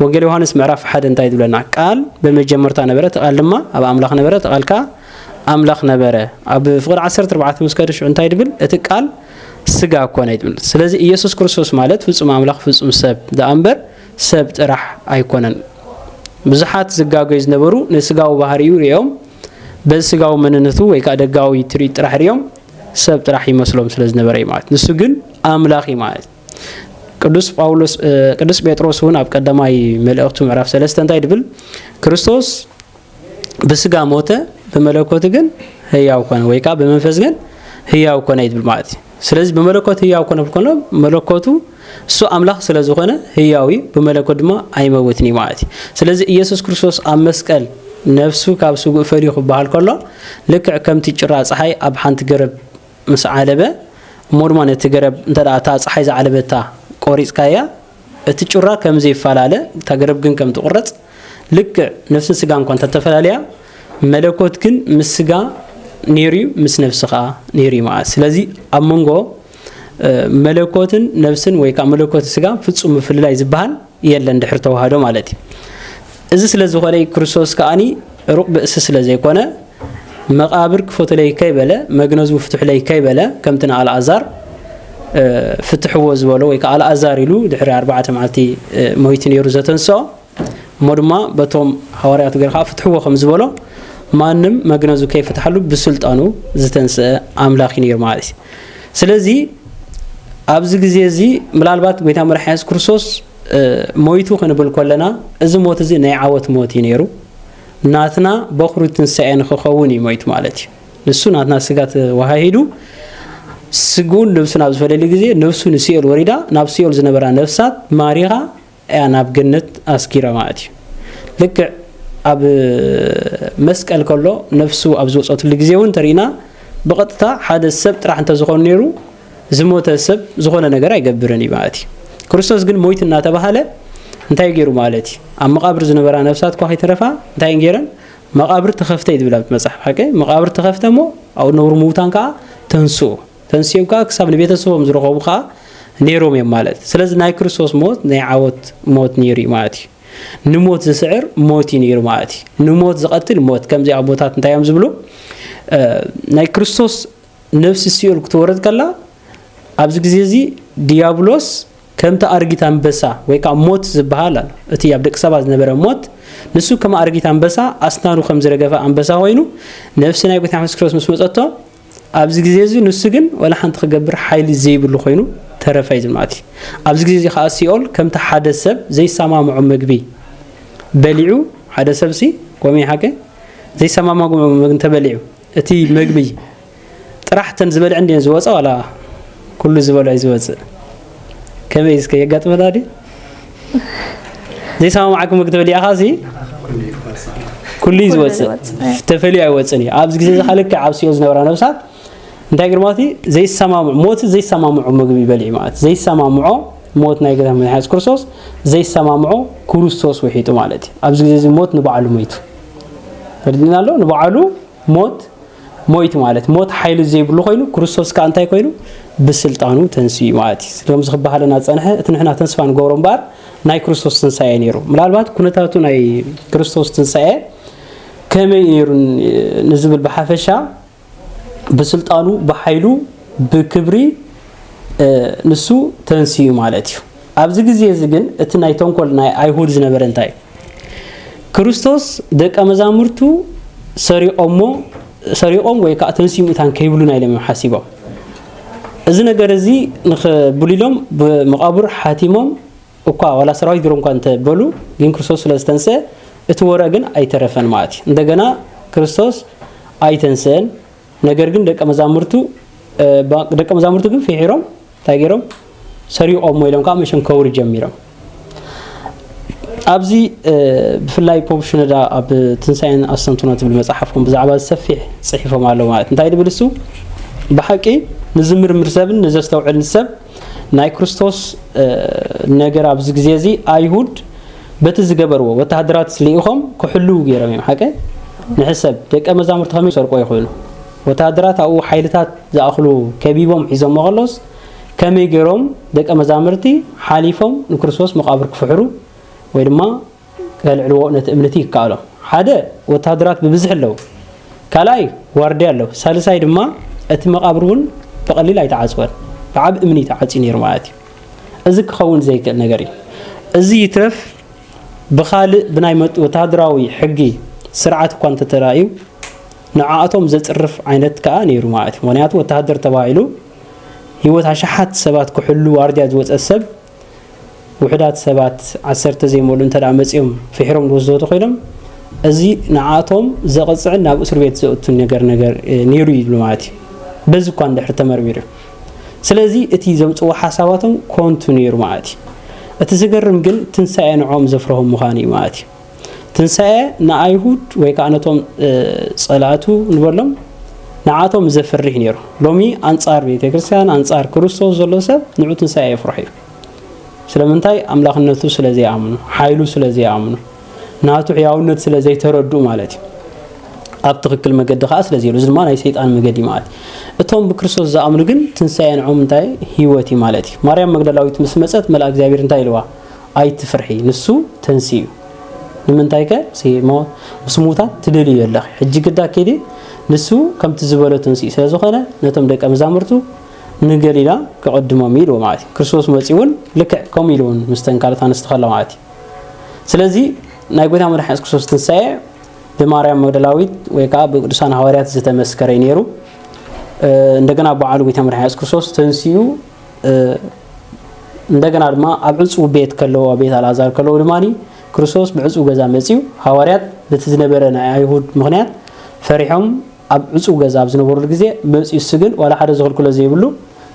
ወንጌል ዮሃንስ ምዕራፍ ሓደ እንታይ ዝብለና ቃል በመጀመርታ ነበረ ተቓል ድማ ኣብ ኣምላኽ ነበረ ተቓል ከዓ ኣምላኽ ነበረ ኣብ ፍቕሪ 14 ምስ ከደ ሽዑ እንታይ ድብል እቲ ቃል ስጋ ኮነ ይብል ስለዚ ኢየሱስ ክርስቶስ ማለት ፍጹም ኣምላኽ ፍጹም ሰብ ደኣ እምበር ሰብ ጥራሕ ኣይኮነን ብዙሓት ዝጋገዩ ዝነበሩ ንስጋዊ ባህሪኡ ሪኦም በዚ ስጋዊ መንነቱ ወይ ከዓ ደጋዊ ትርኢት ጥራሕ ሪኦም ሰብ ጥራሕ ይመስሎም ስለ ዝነበረ እዩ ማለት ንሱ ግን ኣምላኽ እዩ ማለት ቅዱስ ጳውሎስ ቅዱስ ጴጥሮስ እውን ኣብ ቀዳማይ መልእኽቱ ምዕራፍ ሰለስተ እንታይ ድብል ክርስቶስ ብስጋ ሞተ ብመለኮት ግን ህያው ኮነ ወይ ከዓ ብመንፈስ ግን ህያው ኮነ ይብል ማለት እዩ ስለዚ ብመለኮት ህያው ኮነ ብኮነ መለኮቱ እሱ ኣምላኽ ስለ ዝኾነ ህያው እዩ፣ ብመለኮት ድማ ኣይመውትን እዩ ማለት እዩ። ስለዚ ኢየሱስ ክርስቶስ ኣብ መስቀል ነፍሱ ካብ ስግኡ ፈልዩ ክበሃል ከሎ ልክዕ ከምቲ ጭራ ፀሓይ ኣብ ሓንቲ ገረብ ምስ ዓለበ እሞ ድማ ነቲ ገረብ እንተ እታ ፀሓይ ዝዓለበታ ቆሪፅካያ እቲ ጩራ ከም ዘይፈላለ እታ ገረብ ግን ከም ትቑረፅ ልክዕ ነፍስን ስጋን እኳ እንተተፈላለያ መለኮት ግን ምስ ስጋ ነይሩ ምስ ነፍሲ ከዓ ነይሩ ማለት ስለዚ ኣብ መንጎ መለኮትን ነብስን ወይ ከዓ መለኮት ስጋን ፍፁም ምፍልላይ ዝበሃል የለን ድሕሪ ተዋህዶ ማለት እዩ እዚ ስለ ዝኾነ ክርስቶስ ከዓኒ ሩቕ ብእሲ ስለ ዘይኮነ መቃብር ክፈትለይ ከይበለ መግነዙ ፍትሕለይ ከይበለ ከምቲ ንኣልኣዛር ፍትሕዎ ዝበሎ ወይ ከዓ ኣልኣዛር ኢሉ ድሕሪ ኣርባዕተ መዓልቲ ሞይቲ ነይሩ ዘተንስኦ እሞ ድማ በቶም ሃዋርያቱ ገይሩ ኸኣ ፍትሕዎ ከም ዝበሎ ማንም መግነዙ ከይፈትሓሉ ብስልጣኑ ዝተንስአ ኣምላኽ እዩ ነይሩ ማለት እዩ ስለዚ ኣብዚ ግዜ እዚ ምላልባት ጎይታ መድሓ የሱስ ክርስቶስ ሞይቱ ክንብል ኮለና እዚ ሞት እዚ ናይ ዓወት ሞት እዩ ነይሩ ናትና በኹሪ ትንሳኤ ንክኸውን እዩ ሞይቱ ማለት እዩ ንሱ ናትና ስጋ ተዋሃሂዱ ስግኡን ነብሱን ኣብ ዝፈለየሉ ግዜ ነብሱ ንሲኦል ወሪዳ ናብ ሲኦል ዝነበራ ነፍሳት ማሪኻ እያ ናብ ገነት ኣስጊሮማ ኣእትዩ። ልክዕ ኣብ መስቀል ከሎ ነፍሱ ኣብ ዝወጸትሉ ግዜ እውን እንተሪእና ብቐጥታ ሓደ ሰብ ጥራሕ እንተዝኾን ነይሩ ዝሞተ ሰብ ዝኾነ ነገር ኣይገብርን እዩ ማለት እዩ። ክርስቶስ ግን ሞይት እናተባሃለ እንታይ ገይሩ ማለት እዩ? ኣብ መቓብር ዝነበራ ነፍሳት እኳ ከይተረፋ እንታይ እየን ገይረን? መቓብር ተኸፍተ እዩ ዝብል ኣብቲ መጽሓፍ ሓቂ መቓብር ተኸፍተ እሞ ኣብኡ ዝነብሩ ምዉታን ከዓ ተንስኡ። ተንሲኦም ከኣ ክሳብ ንቤተሰቦም ዝረኸቡ ከኣ ነይሮም እዮም ማለት እዩ። ስለዚ ናይ ክርስቶስ ሞት ናይ ዓወት ሞት ነይሩ እዩ ማለት እዩ። ንሞት ዝስዕር ሞት እዩ ነይሩ ማለት እዩ። ንሞት ዝቐትል ሞት ከምዚ ኣቦታት እንታይ እዮም ዝብሉ ናይ ክርስቶስ ነፍሲ ሲኦል ክትወርድ ከላ ኣብዚ ግዜ እዚ ዲያብሎስ ከምቲ ኣርጊት ኣንበሳ ወይ ከዓ ሞት ዝበሃል ኣሎ እቲ ኣብ ደቂ ሰባት ዝነበረ ሞት ንሱ ከም ኣርጊት ኣንበሳ ኣስናኑ ከም ዝረገፈ ኣንበሳ ኮይኑ ነፍሲ ናይ ጎይታ የሱስ ክርስቶስ ምስ መፀቶ ኣብዚ ግዜ እዚ ንሱ ግን ዋላ ሓንቲ ክገብር ሓይሊ ዘይብሉ ኮይኑ ተረፈ እዩ ዝማእቲ። ኣብዚ ግዜ እዚ ከኣ ሲኦል ከምቲ ሓደ ሰብ ዘይሰማምዖ መግቢ በሊዑ ሓደ ሰብሲ ኮም ይሓቀ ዘይሰማማግሞ መግቢ እንተበሊዑ እቲ መግቢ ጥራሕ እተን ዝበልዐን ድየን ዝወጻ ዋላ ኩሉ ዝበልዖ እዩ ዝወጽእ። ከመይ እስከ የጋጥመና ድዩ ዘይሰማማዕኩም መክተብ ሊኣኻ ሲ ኩሉ እዩ ዝወፅእ ተፈልዩ ኣይወፅን እዩ ኣብዚ ግዜ እዚ ካልክ ዓብስዮ ዝነበራ ነብሳት እንታይ ግርማ እቲ ዘይሰማምዑ ሞት ዘይሰማምዑ ምግቢ ይበልዒ ማለት ዘይሰማምዖ ሞት ናይ ገታ መድሓኒት ክርስቶስ ዘይሰማምዖ ክርስቶስ ውሒጡ ማለት እዩ ኣብዚ ግዜ እዚ ሞት ንባዕሉ ሞይቱ ተርዲና ኣሎ ንባዕሉ ሞት ሞይት ማለት ሞት ሓይሊ ዘይብሉ ኮይኑ ክርስቶስ ከዓ እንታይ ኮይኑ ብስልጣኑ ተንስኡ ማለት እዩ ስለምዚ ክበሃለና ዝፀንሐ እቲ ንሕና ተስፋ ንገብሮ እምበኣር ናይ ክርስቶስ ትንሳኤ ነይሩ ምናልባት ኩነታቱ ናይ ክርስቶስ ትንሳኤ ከመይ ነይሩ ንዝብል ብሓፈሻ ብስልጣኑ ብሓይሉ ብክብሪ ንሱ ተንስኡ ማለት እዩ ኣብዚ ግዜ እዚ ግን እቲ ናይ ተንኮል ናይ ኣይሁድ ዝነበረ እንታይ እዩ? ክርስቶስ ደቀ መዛሙርቱ ሰሪቆሞ ሰሪቆም ወይ ከዓ ተንስኡ ሙታን ከይብሉና ኢሎም እዮም ሓሲቦም። እዚ ነገር እዚ ንክብሉ ኢሎም ብመቃብር ሓቲሞም እኳ ዋላ ሰራዊት ገሮም እኳ እንተበሉ ግን ክርስቶስ ስለ ዝተንስአ እቲ ወረ ግን ኣይተረፈን ማለት እዩ። እንደገና ክርስቶስ ኣይተንስአን፣ ነገር ግን ደቀ መዛሙርቱ ደቀ መዛሙርቱ ግን ፍሒሮም እንታይ ገይሮም ሰሪቖሞ ኢሎም ከዓ መሸም ከውሪ ጀሚሮም ኣብዚ ብፍላይ ፖፕ ሽነዳ ኣብ ትንሳኤን ኣስተንትኖ ትብል መፅሓፍኩም ብዛዕባ ዝሰፊሕ ፅሒፎም ኣለዉ ማለት እንታይ ድብል እሱ ብሓቂ ንዝምርምር ሰብን ንዘስተውዕል ሰብ ናይ ክርስቶስ ነገር ኣብዚ ግዜ እዚ ኣይሁድ በቲ ዝገበርዎ ወተሃደራት ልኢኾም ክሕልው ገይሮም እዮም ሓቀ ንሕሰብ ደቀ መዛሙርቲ ከመይ ሰርቆ ይኽእሉ ወተሃደራት ኣብኡ ሓይልታት ዝኣኽሉ ከቢቦም ሒዞሞ ከሎስ፣ ከመይ ገይሮም ደቀ መዛምርቲ ሓሊፎም ንክርስቶስ መቓብር ክፍሕሩ ወይ ድማ ከልዕልዎ ነቲ እምንት ይከኣሎም? ሓደ፣ ወተሃደራት ብብዝሒ ኣለዉ። ካልኣይ፣ ዋርድያ ኣሎ። ሳልሳይ ድማ፣ እቲ መቓብር እውን ብቐሊል ኣይተዓጽወን። ብዓቢ እምኒ እዩ ተዓጽዩ ነይሩ ማለት እዩ። እዚ ክኸውን ዘይክእል ነገር እዩ። እዚ ይትረፍ ብኻልእ ብናይ ወተሃደራዊ ሕጊ ስርዓት እኳ እንተተራእዩ፣ ንዓኣቶም ዘጽርፍ ዓይነት ከኣ ነይሩ ማለት እዩ። ምኽንያቱ ወተሃደር ተባሂሉ ህይወት ኣሽሓት ሰባት ክሕሉ ዋርድያ ዝወጸ ሰብ ውሑዳት ሰባት ዓሰርተ ዘይመልኡ እንተ መጺኦም ፍሒሮም ዝወስድዎ ተኾይኖም እዚ ንዓኣቶም ዘቕጽዕን ናብ እስር ቤት ዘእቱን ነገር ነገር ነይሩ ይብሉ ማለት እዩ። በዚ እኳ እንድሕር ተመርሚሩ ስለዚ እቲ ዘምጽዎ ሓሳባቶም ኮንቱ ነይሩ ማለት እዩ እቲ ዝገርም ግን ትንሳኤ ንዕኦም ዘፍርሆም ምዃኑ እዩ ማለት እዩ ትንሳኤ ንኣይሁድ ወይ ከዓ ነቶም ፀላእቱ ንበሎም ንዓቶም ዘፍርህ ነይሩ። ሎሚ ኣንፃር ቤተ ክርስቲያን ኣንፃር ክርስቶስ ዘሎ ሰብ ንዑ ትንሳኤ የፍርሑ እዩ። ስለምንታይ ኣምላኽነቱ ስለ ዘይኣምኑ፣ ሓይሉ ስለ ዘይኣምኑ፣ ናቱ ሕያውነት ስለ ዘይተረድኡ ማለት እዩ። ኣብ ትክክል መገዲ ከዓ ስለዚ እዚ ድማ ናይ ሰይጣን መገዲ ማለት እዩ እቶም ብክርስቶስ ዝኣምኑ ግን ትንሳኤ ንዖም እንታይ ህይወት እዩ ማለት እዩ ማርያም መግደላዊት ምስ መፀት መልኣ እግዚኣብሔር እንታይ ኢልዋ ኣይትፍርሒ ንሱ ተንስኡ እዩ ንምንታይ ከ ሲሞ ምስ ሙታት ትደልዩ ኣለኺ ሕጂ ግዳ ኪዲ ንሱ ከምቲ ዝበሎ ተንስኡ ስለ ዝኾነ ነቶም ደቀ መዛሙርቱ ንገሊላ ክቕድሞም ኢልዎ ማለት እዩ ክርስቶስ መጺኡ እውን ልክዕ ከምኡ ኢሉ እውን ምስተን ካልኦት ኣንስቲ ከሎ ማለት እዩ ስለዚ ናይ ጎይታ መድሓኒ የሱስ ክርስቶስ ትንሳኤ ብማርያም መግደላዊት ወይ ከዓ ብቅዱሳን ሃዋርያት ዝተመስከረ ነይሩ እንደገና በዓሉ ጎይታ መድሓኒ የሱስ ክርስቶስ ተንስኡ እንደገና ድማ ኣብ ዕፁው ቤት ከለዉ ኣብ ቤት ኣልኣዛር ከለዉ ድማ ክርስቶስ ብዕፁው ገዛ መፅዩ ሃዋርያት በቲ ዝነበረ ናይ ኣይሁድ ምክንያት ፈሪሖም ኣብ ዕፁው ገዛ ኣብ ዝነበሩሉ ግዜ መፅዩ እሱ ግን ዋላ ሓደ ዝኽልክሎ ዘይብሉ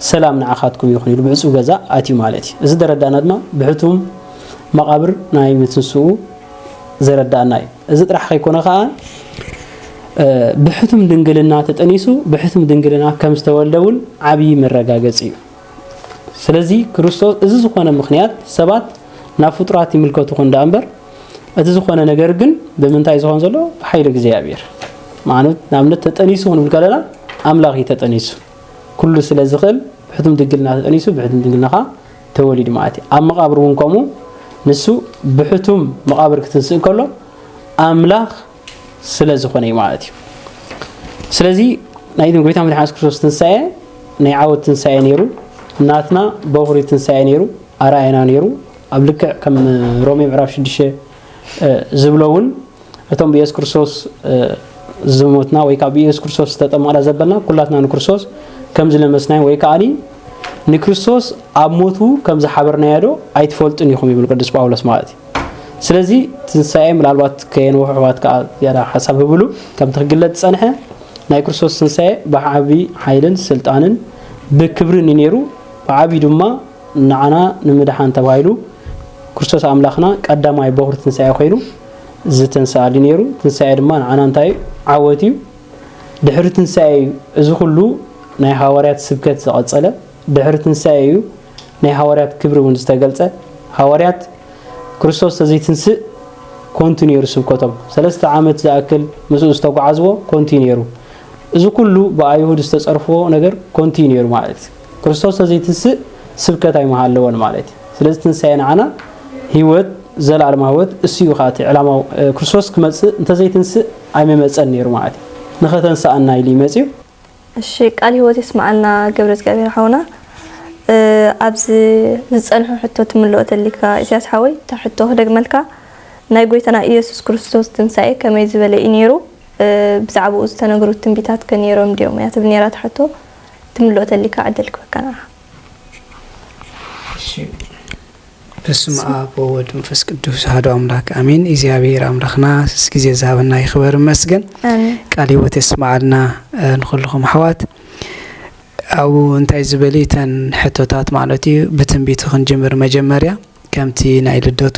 ሰላም ንዓኻትኩም ይኹን ኢሉ ብዕፁው ገዛ ኣትዩ ማለት እዩ እዚ ዘረዳእና ድማ ብሕቱም መቓብር ናይ ምትንስኡ ዘረዳእና እዩ እዚ ጥራሕ ከይኮነ ከኣ ብሕቱም ድንግልና ተጠኒሱ ብሕቱም ድንግልና ከም ዝተወልደ እውን ዓብዪ መረጋገፂ እዩ። ስለዚ ክርስቶስ እዚ ዝኾነ ምክንያት ሰባት ናብ ፍጡራት ይምልከቱ ኹን ዳኣ እምበር እቲ ዝኾነ ነገር ግን ብምንታይ ዝኾን ዘሎ ብሓይሊ እግዚኣብሔር ማለት ንኣብነት ተጠኒሱ ክንብል ከለና ኣምላኽ እዩ ተጠኒሱ ኩሉ ስለ ዝኽእል ብሕቱም ድንግልና ተጠኒሱ ብሕቱም ድንግልና ከዓ ተወሊዱ መኣቲ ኣብ መቓብር እውን ከምኡ ንሱ ብሕቱም መቓብር ክትንስእ ከሎ ኣምላኽ ስለ ዝኾነ እዩ ማለት እዩ ስለዚ ናይ ጎይታ መድሓን የሱስ ክርስቶስ ትንሳኤ ናይ ዓወት ትንሳኤ ነይሩ ናትና በኹሪ ትንሳኤ ነይሩ ኣርኣየና ነይሩ ኣብ ልክዕ ከም ሮሜ ምዕራፍ 6 ዝብሎ እውን እቶም ብየሱስ ክርስቶስ ዝሞትና ወይ ከዓ ብየሱስ ክርስቶስ ዝተጠመቕና ዘበልና ኩላትና ንክርስቶስ ከም ዝለመስናዮ ወይ ከዓኒ ንክርስቶስ ኣብ ሞቱ ከም ዝሓበርናዮ ዶ ኣይትፈልጡን ኢኹም ይብል ቅዱስ ጳውሎስ ማለት እዩ ስለዚ ትንሳኤ ምናልባት ከየንውሑ ኣሕዋት ከዓ ዝያዳ ሓሳብ ህብሉ ከምቲ ክግለጽ ዝፀንሐ ናይ ክርስቶስ ትንሳኤ ብዓብዪ ሓይልን ስልጣንን ብክብርን እዩ ነይሩ ብዓብዪ ድማ ንዓና ንምድሓን ተባሂሉ ክርስቶስ ኣምላኽና ቀዳማይ በዅሪ ትንሳኤ ኮይኑ ዝተንስኣሉ እዩ ነይሩ። ትንሳኤ ድማ ንዓና እንታይ እዩ? ዓወት እዩ። ድሕሪ ትንሳኤ እዩ እዚ ዅሉ ናይ ሃዋርያት ስብከት ዝቐጸለ። ድሕሪ ትንሳኤ እዩ ናይ ሃዋርያት ክብሪ እውን ዝተገልጸ። ሃዋርያት ክርስቶስ ተዘይትንስእ ኮንቱ ነይሩ ስብከቶም። ሰለስተ ዓመት ዝኣክል ምስኡ ዝተጓዓዝዎ ኮንቱ እዩ ነይሩ። እዚ ኵሉ ብኣይሁድ ዝተጸርፍዎ ነገር ኮንቱ እዩ ነይሩ ማለት እዩ። ክርስቶስ ተዘይትንስእ ስብከት ኣይምሃለወን ማለት እዩ ስለዚ ትንሳኤ ንዓና ህይወት ዘለኣለማ ህይወት እሱዩ ከዓ እቲ ዕላማ ክርስቶስ ክመፅእ እንተዘይትንስእ ኣይመመፀን ነይሩ ማለት እዩ ንኸተንስኣና ኢሉ ይመፅዩ እሺ ቃል ህይወት የስማዓልና ገብረ እግዚኣብሔር ሓውና ኣብዚ ዝፀንሑ ሕቶ ትምልኦ ተሊካ ኢሳያስ ሓወይ እታ ሕቶ ክደግመልካ ናይ ጎይታና ኢየሱስ ክርስቶስ ትንሳኤ ከመይ ዝበለ እዩ ነይሩ ብዛዕባኡ ዝተነግሩ ትንቢታት ከ ነይሮም ድዮም እያ ትብል ነይራ እታ ሕቶ ትምልኦ ተሊካ ዕድል ክበካ ንዓ። እሺ በስመ ኣብ ወወልድ መንፈስ ቅዱስ ኣሐዱ ኣምላክ ኣሜን። እግዚኣብሔር ኣምላክና ስስ ግዜ ዝሃበና ይክበር ይመስገን። ኣሜን ቃል ህይወት የስመዓልና እ፣ ንኩልኩም ኣሕዋት ኣብኡ እንታይ ዝበሉ እተን ሕቶታት ማለት እዩ ብትንቢት ክንጅምር መጀመርያ ከምቲ ናይ ልደቱ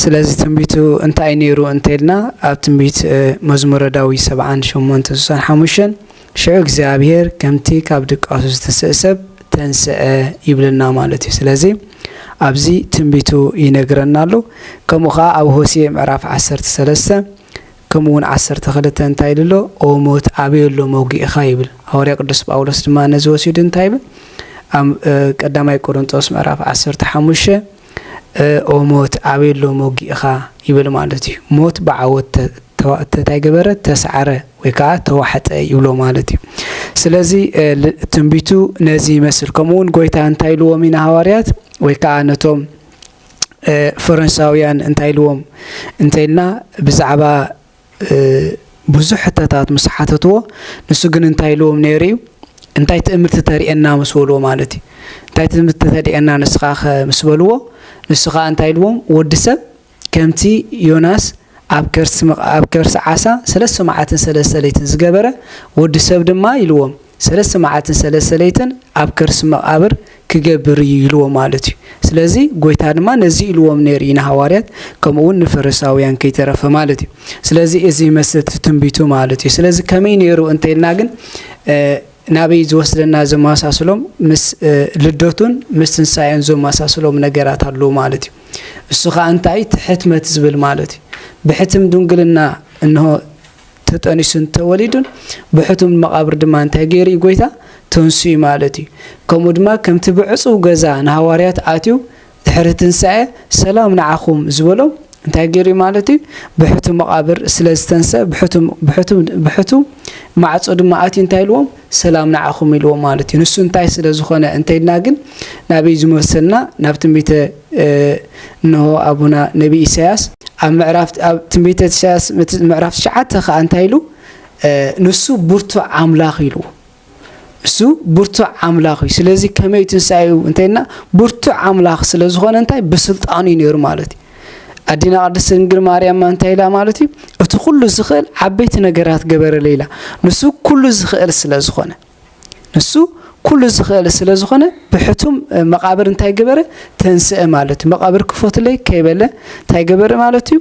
ስለዚ ትንቢቱ እንታይ ነይሩ እንተልና ኣብ ትንቢት መዝሙረ ዳዊት ሰብዓን ሸሞንተን ስሳን ሓሙሽተን ሽዑ እግዚኣብሄር ከምቲ ካብ ድቃሱ ዝተስእ ሰብ ተንስአ ይብለና ማለት እዩ ስለዚ ኣብዚ ትንቢቱ ይነግረና ኣሎ ከምኡ ከዓ ኣብ ሆሴ ምዕራፍ ዓሰርተ ሰለስተ ከምኡ ውን ዓሰርተ ክልተ እንታይ ኢሉ ኣሎ? ኦ ሞት ኣበይ ኣሎ መውጊኢኻ ይብል። ሃዋርያ ቅዱስ ጳውሎስ ድማ ነዚ ወሲዱ እንታይ ይብል? ኣብ ቀዳማይ ቆርንጦስ ምዕራፍ ዓሰርተ ሓሙሽተ ኦ ሞት ኣበይ ኣሎ መውጊኢኻ ይብል ማለት እዩ። ሞት ብዓወት እንታይ ገበረ? ተሳዕረ ወይ ከዓ ተዋሕጠ ይብሎ ማለት እዩ። ስለዚ ትንቢቱ ነዚ ይመስል። ከምኡ ውን ጎይታ እንታይ ኢልዎም እዩ ንሃዋርያት ወይ ከዓ ነቶም ፈረንሳውያን እንታይ ኢልዎም እንተይልና ብዛዕባ ብዙሕ ሕተታት ምስ ሓተትዎ ንሱ ግን እንታይ ኢልዎም ነይሩ እዩ እንታይ ትእምርቲ ተርእየና ምስ በልዎ ማለት እዩ እንታይ ትእምርቲ ተርእየና ንስኻ ምስ በልዎ ንሱ ከዓ እንታይ ኢልዎም ወዲ ሰብ ከምቲ ዮናስ ኣብ ከርሲ ኣብ ከርሲ ዓሳ ሰለስተ መዓልትን ሰለስተ ለይትን ዝገበረ ወዲ ሰብ ድማ ኢልዎም ሰለስተ መዓልትን ሰለስተ ለይትን ኣብ ከርሲ መቓብር ኪገብር እዩ ኢልዎ ማለት እዩ። ስለዚ ጎይታ ድማ ነዚ ኢልዎም ነይሩ እዩ ንሃዋርያት ከምኡ ውን ንፈሪሳውያን ከይተረፈ ማለት እዩ። ስለዚ እዚ ይመስል እቲ ትንቢቱ ማለት እዩ። ስለዚ ከመይ ነይሩ እንተይልና ግን ናበይ ዝወስደና ዘመሳስሎም ምስ ልደቱን ምስ ትንሳኤን ዘመሳስሎም ነገራት ኣለዉ ማለት እዩ። እሱ ከኣ እንታይ እቲ ሕትመት ዝብል ማለት እዩ። ብሕትም ድንግልና እንሆ ተጠኒሱ እንተወሊዱን ብሕቱም ንመቓብር ድማ እንታይ ገይሩ እዩ ጎይታ ተንስኡ ማለት እዩ ከምኡ ድማ ከምቲ ብዕጹው ገዛ ንሃዋርያት ኣትዩ ድሕሪ ትንሳኤ ሰላም ንዓኹም ዝበሎም እንታይ ገይሩ እዩ ማለት እዩ ብሕቱም መቓብር ስለ ዝተንሰ ብሕቱም ብሕቱም ብሕቱም ማዕጾ ድማ ኣትዩ እንታይ ኢልዎም ሰላም ንዓኹም ኢልዎም ማለት እዩ። ንሱ እንታይ ስለ ዝኾነ እንተይልና ግን ናበይ ዝመሰልና ናብ ትንቢተ እንሆ ኣቡና ነቢ ኢሳያስ ኣብ ምዕራፍ ኣብ ትንቢተ ኢሳያስ ምዕራፍ ትሽዓተ ከዓ እንታይ ኢሉ ንሱ ብርቱዕ ኣምላኽ ኢሉ እሱ ብርቱዕ ኣምላኽ እዩ ስለዚ ከመይ ትንሳኤ እዩ እንተይልና ብርቱዕ ኣምላኽ ስለ ዝኾነ እንታይ ብስልጣኑ እዩ ነይሩ ማለት እዩ ኣዴና ቅድስት ድንግል ማርያም እንታይ ኢላ ማለት እዩ እቲ ኩሉ ዝኽእል ዓበይቲ ነገራት ገበረለ ኢላ ንሱ ኩሉ ዝኽእል ስለ ዝኾነ ንሱ ኩሉ ዝኽእል ስለ ዝኾነ ብሕቱም መቃብር እንታይ ገበረ ተንስአ ማለት እዩ መቃብር ክፎትለይ ከይበለ እንታይ ገበረ ማለት እዩ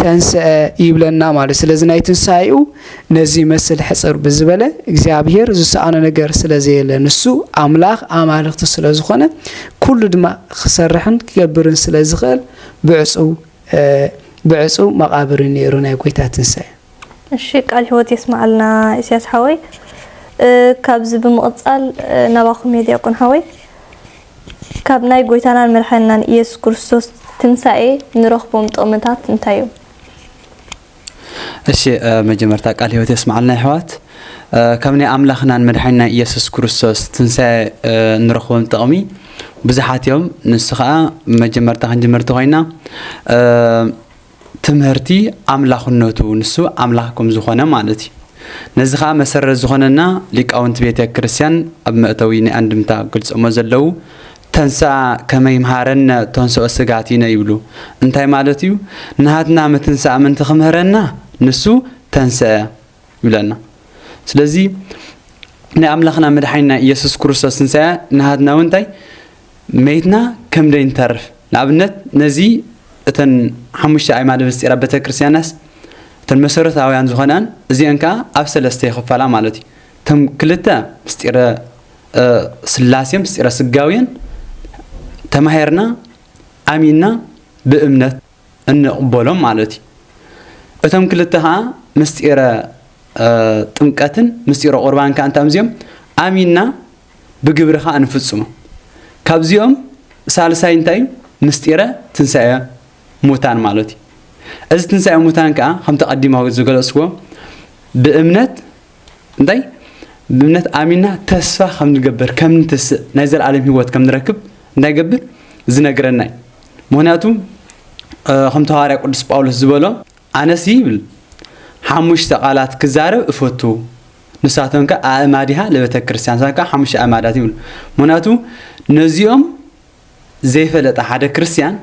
ተንስአ ይብለና ማለት ስለዚ ናይ ትንሳኤኡ ነዚ ይመስል ሕጽር ብዝበለ እግዚኣብሄር ዝሰኣኖ ነገር ስለ ዘየለ ንሱ ኣምላኽ ኣማልኽቲ ስለ ዝኾነ ኩሉ ድማ ክሰርሕን ክገብርን ስለ ዝኽእል ብዕጹው ብዕጹው መቓብር ነይሩ ናይ ጎይታ ትንሳኤ። እሺ ቃል ህይወት የስማዓልና ኢስያስ ሓወይ ካብዚ ብምቕጻል ናባኹም እየ ዲያቆን ሓወይ ካብ ናይ ጎይታናን መድሓንናን ኢየሱስ ክርስቶስ ትንሳኤ ንረኽቦም ጥቕምታት እንታይ እዮም? እሺ መጀመርታ ቃል ህይወት የስማዓልና ይሕዋት ካብ ናይ ኣምላኽናን መድሓኒናን ኢየሱስ ክርስቶስ ትንሳኤ እንረኽቦም ጥቕሚ ብዙሓት እዮም ንሱ ከዓ መጀመርታ ክንጅምርቲ ኮይና ትምህርቲ ኣምላኽነቱ ንሱ ኣምላኽ ከም ዝኾነ ማለት እዩ ነዚ ከዓ መሰረት ዝኾነና ሊቃውንቲ ቤተ ክርስቲያን ኣብ መእተዊ ናይ ኣንድምታ ገልጾሞ ዘለዉ ተንሥኣ ከመ ይምሃረነ ተንሥኦ ሥጋቲነ ይብሉ እንታይ ማለት እዩ ናሃትና ምትንሳእ ምንቲ ክምህረና ንሱ ተንሥአ ይብለና ስለዚ ናይ ኣምላኽና መድሓኒና ኢየሱስ ክርስቶስ ትንሣኤ ናሃትና እውን እንታይ መይትና ከም ደይንተርፍ ንኣብነት ነዚ እተን ሓሙሽተ ኣይማደ ምስጢራ ቤተ ክርስቲያናስ እተን መሰረታውያን ዝኾናን እዚአን ከዓ ኣብ ሰለስተ ይኽፈላ ማለት እዩ እቶም ክልተ ምስጢረ ስላሴ ምስጢረ ስጋዌን ተማሂርና ኣሚንና ብእምነት እንቕበሎም ማለት እዩ። እቶም ክልተ ከዓ ምስጢረ ጥምቀትን ምስጢረ ቁርባን ከዓ እንታይ እዚኦም ኣሚንና ብግብሪ ከዓ እንፍፅሞ ካብዚኦም ሳልሳይ እንታይ እዩ ምስጢረ ትንሳኤ ሙታን ማለት እዩ እዚ ትንሳኤ ሙታን ከዓ ከምቲ ቀዲማዊ ዝገለፅዎ ብእምነት እንታይ ብእምነት ኣሚና ተስፋ ከም ንገብር ከም ንትስእ ናይ ዘለኣለም ህይወት ከም ንረክብ እንታይ ገብር ዝነግረና እዩ ምክንያቱ ከም ተዋርያ ቅዱስ ጳውሎስ ዝበሎ ኣነሲ ይብል ሓሙሽተ ቃላት ክዛረብ እፈቱ ንሳቶም ከ ኣእማዲሃ ለቤተ ክርስቲያን ንሳቶም ከ ሓሙሽተ ኣእማዳት ይብሉ ምክንያቱ ነዚኦም ዘይፈለጠ ሓደ ክርስቲያን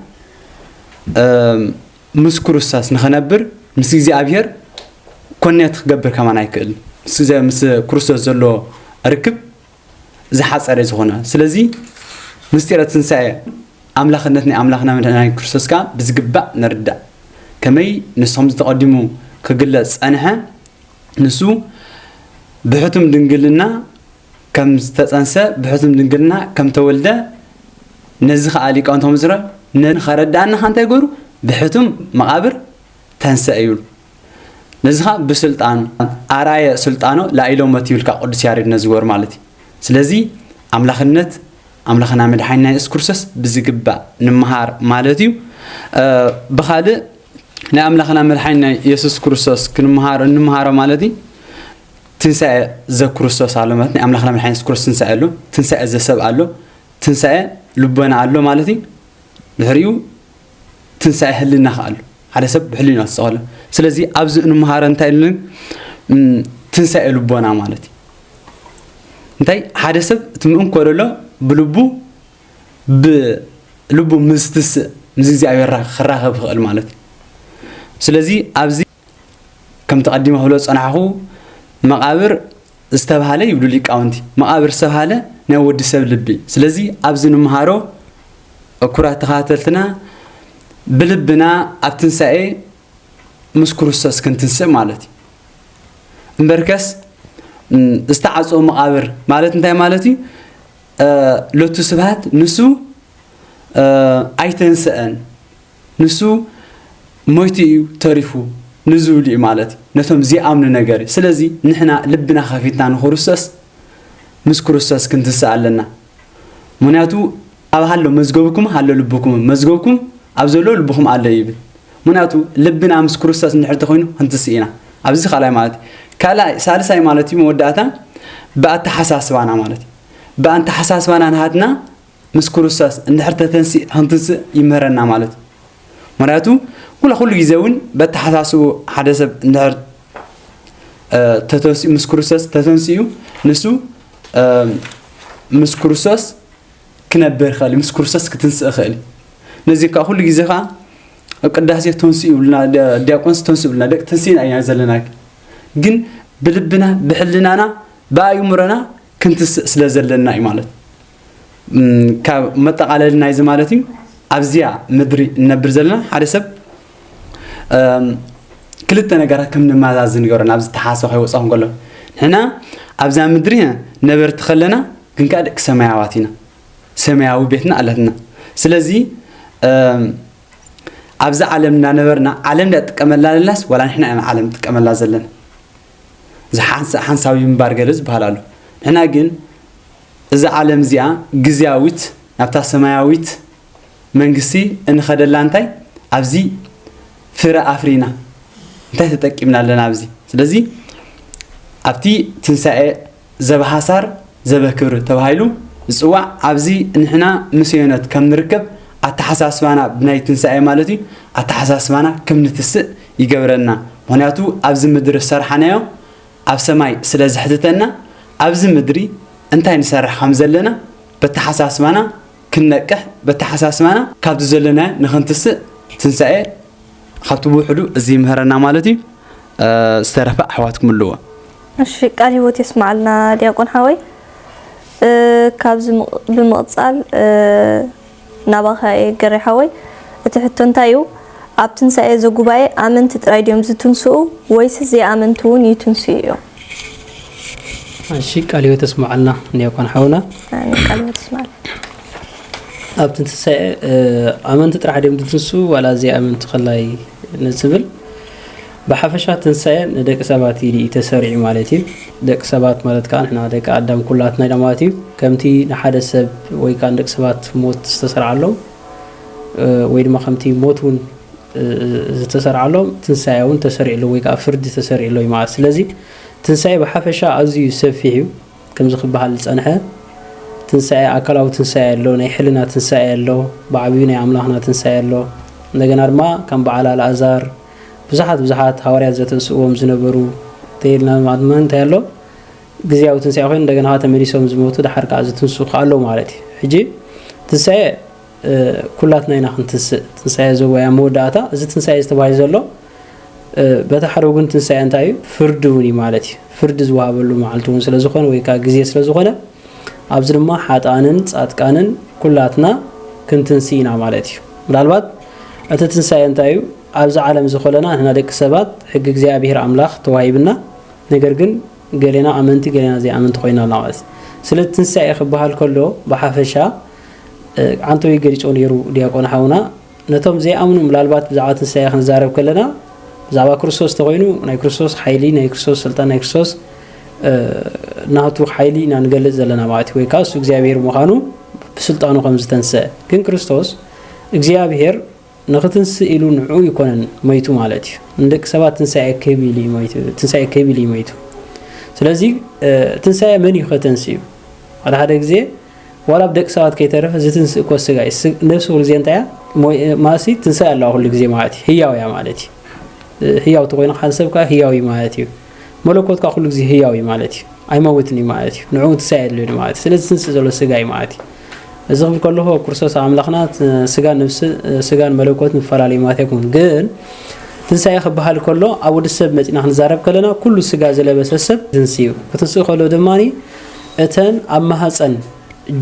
ምስ ኩሩስታስ ንኸነብር ምስ እግዚኣብሔር ኮኔት ክገብር ከማን ኣይክእልን። ምስ እግዚኣብሔር ምስ ኩሩስቶስ ዘሎ ርክብ ዝሓጸረ እዩ ዝኾነ። ስለዚ ምስጢረ ትንሣኤ ኣምላኽነት ናይ ኣምላኽና መድኃኒና ክርስቶስ ከኣ ብዝግባእ ንርዳእ። ከመይ ንስኹም ዝተቐዲሙ ክግለጽ ጸንሐ ንሱ ብሕቱም ድንግልና ከም ዝተጸንሰ ብሕሱም ድንግልና ከም ተወልደ ነዚ ከኣ ሊቃውንት ከምዝረ ን ከረድኣና ከኣ እንታይ ገሩ ብሕቱም መቓብር ተንሰ ይብሉ ነዚ ከኣ ብስልጣኑ ኣራየ ስልጣኖ ላኢሎመት ይብልካ ቅዱስ ያሬድ ነዚ ገሩ ማለት እዩ ስለዚ ኣምላኽነት ኣምላኽና መድሓኒና የሱስ ክርስቶስ ብዝግባእ ንምሃር ማለት እዩ ብኻልእ ናይ ኣምላኽና መድሓኒና የሱስ ክርስቶስ ክንምሃር እንምሃሮ ማለት እዩ ትንሳኤ ዘክርስቶስ ኣሎ ማለት ናይ ኣምላኽና መድሓኒና የሱስ ክርስቶስ ትንሳኤ ኣሎ ትንሳኤ ዘሰብ ኣሎ ትንሳኤ ልቦና ኣሎ ማለት እዩ ድሕሪኡ ትንሳኤ ህልና ከ ኣሎ ሓደ ሰብ ብሕሊና ዝፀቐሎ ስለዚ ኣብዚ እንመሃረ እንታይ ኢሉ ትንሳኤ ልቦና ማለት እዩ እንታይ ሓደ ሰብ እቲ ምእንኮ ደሎ ብልቡ ብልቡ ምዝትስእ ምስ እግዚኣብሔር ክራኸብ ይኽእል ማለት እዩ ስለዚ ኣብዚ ከምቲ ቀዲመ ክብሎ ዝጸናሕኹ መቓብር ዝተብሃለ ይብሉ ሊቃውንቲ መቓብር ዝተብሃለ ናይ ወዲ ሰብ ልቢ ስለዚ ኣብዚ ንምሃሮ ክቡራት ተኸታተልትና ብልብና ኣብ ትንሳኤ ምስ ክርስቶስ ክንትንስእ ማለት እዩ እምበርከስ ዝተዓፀወ መቃብር ማለት እንታይ ማለት እዩ ሎቱ ስብሃት ንሱ ኣይተንስአን ንሱ ሞይቱ እዩ ተሪፉ ንዝብሉ እዩ ማለት ነቶም ዘይኣምኑ ነገር እዩ ስለዚ ንሕና ልብና ከፊትና ንክርስቶስ ምስ ክርስቶስ ክንትስእ ኣለና ምክንያቱ ኣብ ሃሎ መዝገብኩም ሃሎ ልብኩም መዝገብኩም ኣብ ዘሎ ልብኩም ኣሎ ይብል ምክንያቱ ልብና ምስ ክርስቶስ እንድሕር ተኮይኑ ክንትስእ ኢና ኣብዚ ካልኣይ ማለት እዩ ካልኣይ ሳልሳይ ማለት እዩ መወዳእታ ብኣተሓሳስባና ማለት እዩ ብኣተሓሳስባና ናሃትና ምስ ክርስቶስ እንድሕር ተተንሲእ ኽንትንስእ ይምህረና ማለት እዩ ምክንያቱ ኩላ ኩሉ ግዜ እውን በተሓሳስቡ ሓደ ሰብ እንድሕር ተተንሲኡ ምስ ክርስቶስ ተተንሲኡ ንሱ ምስ ክርስቶስ ክነብር ይኽእል ምስ ክርስቶስ ክትንስእ ይኽእል ነዚ ከዓ ኩሉ ግዜ ከዓ ኣብ ቅዳሴ ተንስኡ ይብሉና ዲያቆንስ ተንሱ ይብሉና ደቂ ተንስእና ኢና ዘለና ግን ብልብና ብሕልናና ብኣእምሮና ክንትስእ ስለ ዘለና እዩ ማለት ካብ መጠቓለሊ ናይዚ ማለት እዩ ኣብዚያ ምድሪ እነብር ዘለና ሓደ ሰብ ክልተ ነገራት ከም ንመዛዝ ንገሮ ናብ ዝተሓሰ ከይወፅኦ ከሎ ንሕና ኣብዛ ምድሪ ነበርቲ ከለና ግን ከዓ ደቂ ሰማያዋት ኢና ሰማያዊ ቤትና ኣለትና ስለዚ ኣብዚ ዓለም እናነበርና ዓለም ዳ ጥቀመላ ለላስ ዋላ ንሕና ኢና ዓለም ጥቀመላ ዘለና እዚ ሓንሳዊ ምንባር ገለ ዝበሃል ኣሎ ንሕና ግን እዛ ዓለም እዚኣ ግዝያዊት ናብታ ሰማያዊት መንግስቲ እንኸደላ እንታይ ኣብዚ ፍረ ኣፍሪና እንታይ ተጠቂምና ኣለና ኣብዚ ስለዚ ኣብቲ ትንሳኤ ዘበሃሳር ዘበክብር ተባሂሉ ዝፅዋዕ ኣብዚ ንሕና ምስ ዮነት ከም ንርከብ ኣተሓሳስባና ብናይ ትንሳኤ ማለት እዩ ኣተሓሳስባና ከም ንትስእ ይገብረና ምክንያቱ ኣብዚ ምድሪ ዝሰርሓናዮ ኣብ ሰማይ ስለ ዝሕትተና ኣብዚ ምድሪ እንታይ ንሰርሕ ከም ዘለና በተሓሳስባና ክንነቅሕ በተሓሳስባና ካብቲ ዘለናዮ ንክንትስእ ትንሳኤ ካብቲ ብውሕዱ እዚ ይምህረና ማለት እዩ ዝተረፈ ኣሕዋትኩም ኣለዎ እሺ ቃል ህይወት የስማዓልና ዲያቆን ሓወይ ካብዚ ብምቕጻል ናባኻ እየ ገሬ ሓወይ እቲ ሕቶ እንታይ እዩ ኣብ ትንሳኤ ዘጉባኤ ኣመንቲ ጥራይ ድዮም ዝትንስኡ ወይስ ዘይኣመንቲ እውን ይትንስኡ እዮም። እሺ ቃል ህይወት እስመዓልና ንዮኮን ሓውና ቃል ህይወት እስመዓልና ኣብ ትንሳኤ ኣመንቲ ጥራሕ ድዮም ዝትንስኡ ዋላ ዘይኣመንቲ ከላይ ንዝብል ብሓፈሻ ትንሳኤ ንደቂ ሰባት ኢሉ እዩ ተሰሪዑ ማለት እዩ። ደቂ ሰባት ማለት ከኣ ንሕና ደቂ ኣዳም ኩላትና ኢና ማለት እዩ። ከምቲ ንሓደ ሰብ ወይ ከኣ ንደቂ ሰባት ሞት ዝተሰርዓሎም ወይ ድማ ከምቲ ሞት እውን ዝተሰርዓሎም ትንሳኤ እውን ተሰሪዕሉ ወይ ከኣ ፍርዲ ተሰሪዕሉ እዩ ማለት ስለዚ ትንሳኤ ብሓፈሻ ኣዝዩ ሰፊሕ እዩ ከምዚ ክበሃል ዝጸንሐ ትንሳኤ ኣካላዊ ትንሳኤ ኣሎ፣ ናይ ሕልና ትንሳኤ ኣሎ፣ ብዓብዩ ናይ ኣምላኽና ትንሳኤ ኣሎ። እንደገና ድማ ከም በዓል ኣልኣዛር ብዙሓት ብዙሓት ሃዋርያት ዘተንስእዎም ዝነበሩ ተይልና ማድማ እንታይ ኣሎ ግዝያዊ ትንሳኤ ኮይኑ እንደገና ከዓ ተመሊሶም ዝሞቱ ድሓር ከዓ ዝትንሱ ከዓ ኣለዉ ማለት እዩ ሕጂ ትንሳኤ ኩላትና ኢና ክንትንስእ ትንሳኤ ዘወያ መወዳእታ እዚ ትንሳኤ ዝተባሂ ዘሎ በታ ሓደ ወገን ትንሳኤ እንታይ እዩ ፍርዲ እውን እዩ ማለት እዩ ፍርዲ ዝወሃበሉ መዓልቲ እውን ስለዝኾነ ወይ ከዓ ግዜ ስለዝኾነ ኣብዚ ድማ ሓጥኣንን ጻድቃንን ኩላትና ክንትንስእ ኢና ማለት እዩ። ምናልባት እቲ ትንሳኤ እንታይ እዩ? ኣብዚ ዓለም እዚ ኮለና ንሕና ደቂ ሰባት ሕጊ እግዚኣብሔር ኣምላኽ ተዋሂብና ነገር ግን ገሌና ኣመንቲ ገሌና ዘይኣመንቲ ኮይና ኣላ ማለት እዩ። ስለቲ ትንሳኤ ክበሃል ከሎ ብሓፈሻ ዓንተውይ ገሊጾ ነይሩ ዲያቆን ሓውና። ነቶም ዘይኣምኑ ምናልባት ብዛዕባ ትንሳኤ ክንዛረብ ከለና ብዛዕባ ክርስቶስ ተኮይኑ ናይ ክርስቶስ ሓይሊ ናይ ክርስቶስ ስልጣን ናይ ክርስቶስ ናቱ ሓይሊ ኢና ንገልጽ ዘለና ማለት እዩ ወይ ከዓ እሱ እግዚኣብሄር ምዃኑ ብስልጣኑ ከም ዝተንስአ ግን ክርስቶስ እግዚኣብሄር ንክትንስእ ኢሉ ንዕኡ ይኮነን መይቱ ማለት እዩ ንደቂ ሰባት ትንሳኤ ክህብ ኢሉ ትንሳኤ ክህብ ኢሉ መይቱ ስለዚ ትንሳኤ መን እዩ ከተንስእ እዩ ሓደ ሓደ ግዜ ዋላ ብደቂ ሰባት ከይተረፈ ዝትንስእ ኮስ ስጋ እዩ። ነብሲ ኩሉ ግዜ እንታይ እያ ማለትሲ ትንሳኤ ኣለዋ ኩሉ ግዜ ማለት እዩ። ህያው እያ ማለት እዩ። ህያው ተኮይኑ ካን ሰብ ከዓ ህያው እዩ ማለት እዩ። መለኮት ከዓ ኩሉ ግዜ ህያው እዩ ማለት እዩ። ኣይመውትን እዩ ማለት እዩ። ንዕኡ ትንሳኤ የድልዩ ማለት እዩ። ስለዚ ትንስእ ዘሎ ስጋ እዩ ማለት እዩ። እዚ ክብል ከለኹ ክርስቶስ ኣምላኽና ስጋን ነብሲ ስጋን መለኮት ምፈላለዩ ማለት ኣይኮኑን ግን ትንሳኤ ክበሃል ከሎ ኣብ ወዲ ሰብ መፂና ክንዛረብ ከለና ኩሉ ስጋ ዝለበሰ ሰብ ትንስኡ ክትንስኡ ከሎ ድማ እተን ኣብ ማህጸን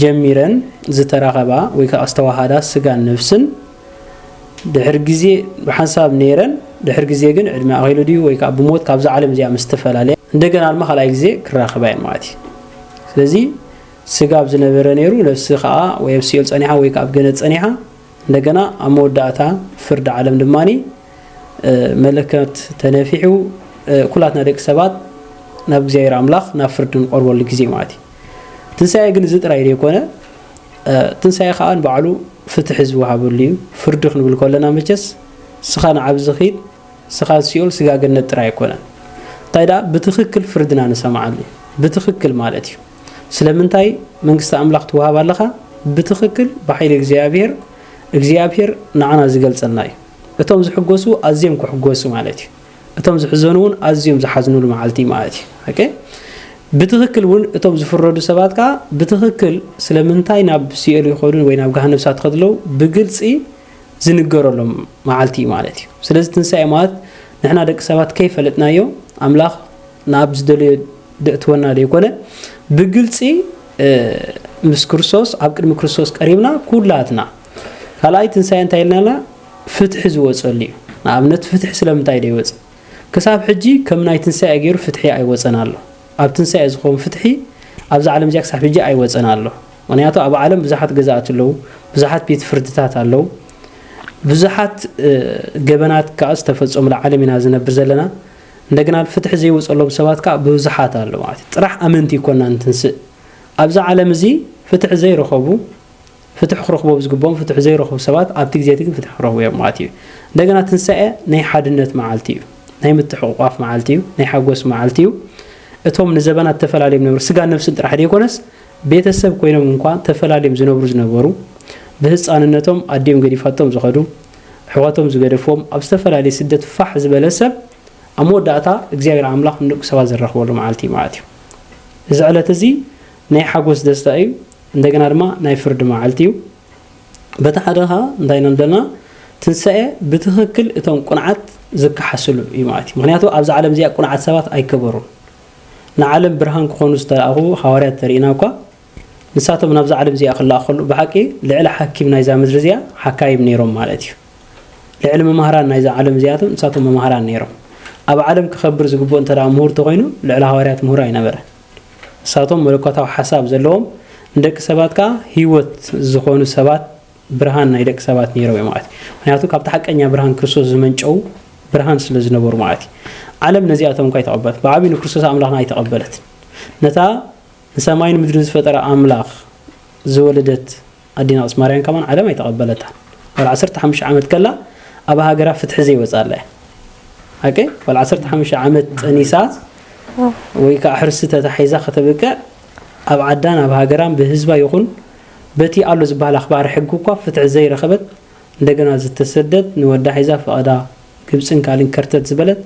ጀሚረን ዝተራኸባ ወይ ከኣ ዝተዋሃዳ ስጋን ነፍስን ድሕሪ ግዜ ብሓንሳብ ነይረን፣ ድሕሪ ግዜ ግን ዕድመ ኣኺሉ ድዩ ወይ ከኣ ብሞት ካብዛ ዓለም እዚኣ ምስ ተፈላለያ እንደገና ድማ ካልኣይ ግዜ ክራኸባ እየን ማለት እዩ። ስለዚ ስጋ ኣብ ዝነበረ ነይሩ ነፍሲ ከኣ ወይ ኣብ ሲኦል ጸኒሓ ወይ ከኣ ኣብ ገነት ጸኒሓ እንደገና ኣብ መወዳእታ ፍርዲ ዓለም ድማ መለከት ተነፊሑ ኩላትና ደቂ ሰባት ናብ እግዚኣብሔር ኣምላኽ ናብ ፍርዲ ንቆርበሉ ግዜ ማለት እዩ ትንሳኤ ግን እዚ ጥራይ ዘይኮነ ትንሳኤ ከዓ ንባዕሉ ፍትሒ ዝወሃበሉ እዩ ፍርዲ ክንብል ከለና መቸስ ስኻ ንዓብዚ ኺድ ስኻ ሲኦል ስጋ ገነት ጥራይ ኣይኮነን እንታይ ደኣ ብትኽክል ፍርድና ንሰምዓሉ እዩ ብትኽክል ማለት እዩ ስለምንታይ መንግስቲ ኣምላኽ ትወሃብ ኣለኻ ብትኽክል ብሓይሊ እግዚኣብሔር እግዚኣብሔር ንዓና ዝገልጸልና እዩ እቶም ዝሕጎሱ ኣዝዮም ክሕጎሱ ማለት እዩ እቶም ዝሕዘኑ እውን ኣዝዮም ዝሓዝኑሉ መዓልቲ ማለት እዩ ኦኬ ብትኽክል እውን እቶም ዝፍረዱ ሰባት ከዓ ብትኽክል ስለምንታይ ናብ ሲኦል ይኸዱን ወይ ናብ ገሃነብ እሳት ከድለው ብግልፂ ዝንገረሎም መዓልቲ እዩ ማለት እዩ። ስለዚ ትንሳኤ ማለት ንሕና ደቂ ሰባት ከይፈለጥናዮ ኣምላኽ ናብ ዝደለዮ ደእትወና ዘይኮነ ብግልፂ ምስ ክርስቶስ ኣብ ቅድሚ ክርስቶስ ቀሪብና ኩላትና ካልኣይ ትንሳኤ እንታይ ኢልናና ፍትሒ ዝወፀሉ እዩ። ንኣብነት ፍትሒ ስለምንታይ ዶ ይወፅ? ክሳብ ሕጂ ከም ናይ ትንሳኤ ገይሩ ፍትሒ ኣይወፀን ኣሎ ኣብ ትንሳኤ ዝኸውን ፍትሒ ኣብዛ ዓለም እዚኣ ክሳብ ሕጂ ኣይወፀን ኣሎ ምክንያቱ ኣብ ዓለም ብዙሓት ገዛእቲ ኣለዉ፣ ብዙሓት ቤት ፍርድታት ኣለዉ፣ ብዙሓት ገበናት ከኣ ዝተፈጸሙላ ዓለም ኢና ዝነብር ዘለና፣ እንደገና ፍትሒ ዘይወጸሎም ሰባት ከኣ ብዙሓት ኣለዉ ማለት እዩ። ጥራሕ ኣመንቲ ኮና እንትንስእ ኣብዚ ዓለም እዚ ፍትሒ ዘይረኸቡ ፍትሒ ክረኽቦም ዝግብኦም ፍትሒ ዘይረኽቡ ሰባት ኣብቲ ግዜ እቲ ግን ፍትሒ ክረኽቡ እዮም ማለት እዩ። እንደገና ትንሳኤ ናይ ሓድነት መዓልቲ እዩ፣ ናይ ምትሕቑቋፍ መዓልቲ እዩ፣ ናይ ሓጎስ መዓልቲ እዩ። እቶም ንዘበናት ተፈላለዮም ነበሩ ስጋን ነፍስን ጥራሕ ዘይኮነስ ቤተሰብ ኮይኖም እንኳ ተፈላልዮም ዝነብሩ ዝነበሩ፣ ብህጻንነቶም ኣዲኦም ገዲፋቶም ዝኸዱ፣ ኣሕዋቶም ዝገደፍዎም፣ ኣብ ዝተፈላለየ ስደት ፋሕ ዝበለ ሰብ፣ ኣብ መወዳእታ እግዚኣብሔር ኣምላኽ ንደቁ ሰባት ዘራኽበሉ መዓልቲ ይመዓት እዩ። እዚ ዕለት እዚ ናይ ሓጎስ ደስታ እዩ፣ እንደገና ድማ ናይ ፍርዲ መዓልቲ እዩ። በቲ ሓደ ከኣ እንታይ ኢና ንደልና ትንሳኤ ብትኽክል እቶም ቁንዓት ዝከሓስሉ እዩ ማለት እዩ። ምክንያቱ ኣብዛ ዓለም እዚኣ ቁንዓት ሰባት ኣይከበሩን። ንዓለም ብርሃን ክኾኑ ዝተላእኹ ሃዋርያት ተርእና እኳ ንሳቶም ናብዛ ዓለም እዚኣ ክላእኹ ከለዉ ብሓቂ ልዕሊ ሓኪም ናይዛ ምድሪ እዚኣ ሓካይም ነይሮም ማለት እዩ። ልዕሊ መማህራን ናይዛ ዓለም እዚኣቶም ንሳቶም መማህራን ነይሮም። ኣብ ዓለም ክኸብር ዝግብኦ እንተ ምሁር ተኾይኑ ልዕሊ ሃዋርያት ምሁር ኣይነበረን። ንሳቶም መለኮታዊ ሓሳብ ዘለዎም ንደቂ ሰባት ከኣ ህይወት ዝኾኑ ሰባት ብርሃን ናይ ደቂ ሰባት ነይሮም እዮም ማለት እዩ። ምክንያቱ ካብቲ ሓቀኛ ብርሃን ክርስቶስ ዝመንጨው ብርሃን ስለ ዝነበሩ ማለት እዩ። ዓለም ነዚኣቶም እኳ ኣይተቐበለት፣ ብዓብዩ ንክርስቶስ ኣምላኽና ኣይተቐበለት። ነታ ንሰማይን ምድርን ዝፈጠረ ኣምላኽ ዝወለደት ኣዴና ቅድስት ማርያም ከማን ዓለም ኣይተቐበለታን። ወላ 15 ዓመት ከላ ኣብ ሃገራ ፍትሒ ዘይወጻላ እያ። ኦኬ ወላ 15 ዓመት ጠኒሳ ወይ ከዓ ሕርሲ ተታሒዛ ከተብቅዕ ኣብ ዓዳን ኣብ ሃገራን ብህዝባ ይኹን በቲ ኣሎ ዝባሃል ኣኽባሪ ሕጊ እኳ ፍትሒ ዘይረኸበት እንደገና ዝተሰደት ንወዳ ሒዛ ፈቐዳ ግብጽን ካልእን ከርተት ዝበለት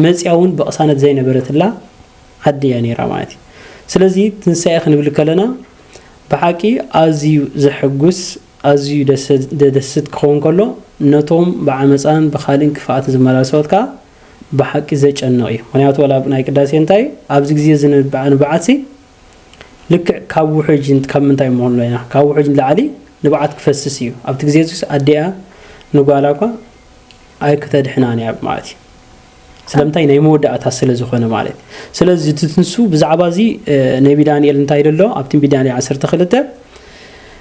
መጽያ ውን ብቕሳነት ዘይነበረትላ ዓዲ እያ ነይራ ማለት እዩ ስለዚ ትንሳኤ ክንብል ከለና ብሓቂ ኣዝዩ ዘሕጉስ ኣዝዩ ደደስት ክኸውን ከሎ ነቶም ብዓመጻን ብኻልእን ክፍኣትን ዝመላለሱ ሰባት ከኣ ብሓቂ ዘጨንቕ እዩ ምክንያቱ ዋላ ናይ ቅዳሴ እንታይ ኣብዚ ግዜ እዚ ንብዓት ንብዓትሲ ልክዕ ካብ ውሕጅ ካብ ምንታይ ንመሃሎ ኢና ካብ ውሕጅ ንላዕሊ ንብዓት ክፈስስ እዩ ኣብቲ ግዜ እዚስ ኣዲኣ ንጓላ እኳ ኣይክተድሕናን እያ ማለት እዩ ስለምንታይ ናይ መወዳእታ ስለ ዝኾነ ማለት ስለዚ እቲ ትንሱ ብዛዕባ እዚ ነቢ ዳንኤል እንታይ ደሎ ኣብ ትንቢት ዳንኤል 12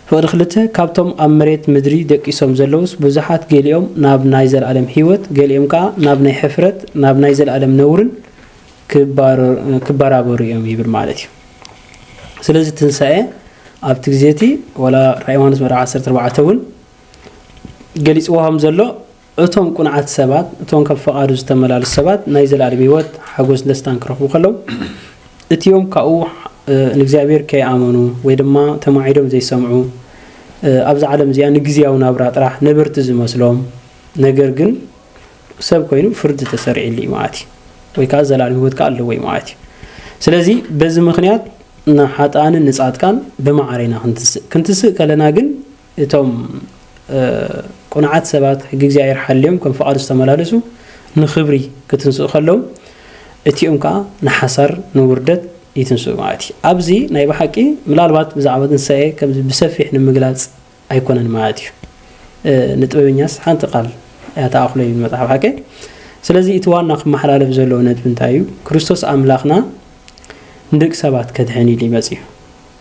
ፍቕዲ ክልተ ካብቶም ኣብ መሬት ምድሪ ደቂሶም ዘለውስ ብዙሓት ገሊኦም ናብ ናይ ዘለኣለም ህይወት ገሊኦም ከዓ ናብ ናይ ሕፍረት ናብ ናይ ዘለኣለም ነውርን ክበራበሩ እዮም ይብል ማለት እዩ ስለዚ ትንሳኤ ኣብቲ ግዜ እቲ ወላ ራእ ዮሃንስ ምዕራፍ 14 እውን ገሊፅዎ ከም ዘሎ እቶም ቁንዓት ሰባት እቶም ከም ፈቓዱ ዝተመላለሱ ሰባት ናይ ዘለኣለም ህይወት ሓጎስ ደስታን ክረኽቡ ከለው እቲኦም ካብኡ ንእግዚኣብሔር ከይኣመኑ ወይ ድማ ተማዒዶም ዘይሰምዑ ኣብዚ ዓለም እዚኣ ንግዜያዊ ናብራ ጥራሕ ነበርቲ ዝመስሎም ነገር ግን ሰብ ኮይኑ ፍርዲ ተሰሪዕሉ እዩ ማለት እዩ ወይ ከዓ ዘላለም ህይወት ከዓ ኣለዎ እዩ ማለት እዩ ስለዚ በዚ ምክንያት ንሓጥኣንን ንጻድቃን ብማዕረ ኢና ክንትስእ ክንትስእ ከለና ግን እቶም ቁንዓት ሰባት ሕጊ እግዚኣብሔር ሓልዮም ከም ፍቓዱ ዝተመላለሱ ንክብሪ ክትንስኡ ከለዉ እቲኦም ከዓ ንሓሳር ንውርደት ይትንስኡ ማለት እዩ ኣብዚ ናይ ብሓቂ ምናልባት ብዛዕባ ትንሳኤ ከምዚ ብሰፊሕ ንምግላፅ ኣይኮነን ማለት እዩ ንጥበበኛስ ሓንቲ ቃል እያ ተኣኽሎ ይብል መጽሓፍ ሓቂ ስለዚ እቲ ዋና ክመሓላለፍ ዘለዎ ነጥቢ እንታይ እዩ ክርስቶስ ኣምላኽና ንደቂ ሰባት ከድሕን ኢሉ ይመጽ እዩ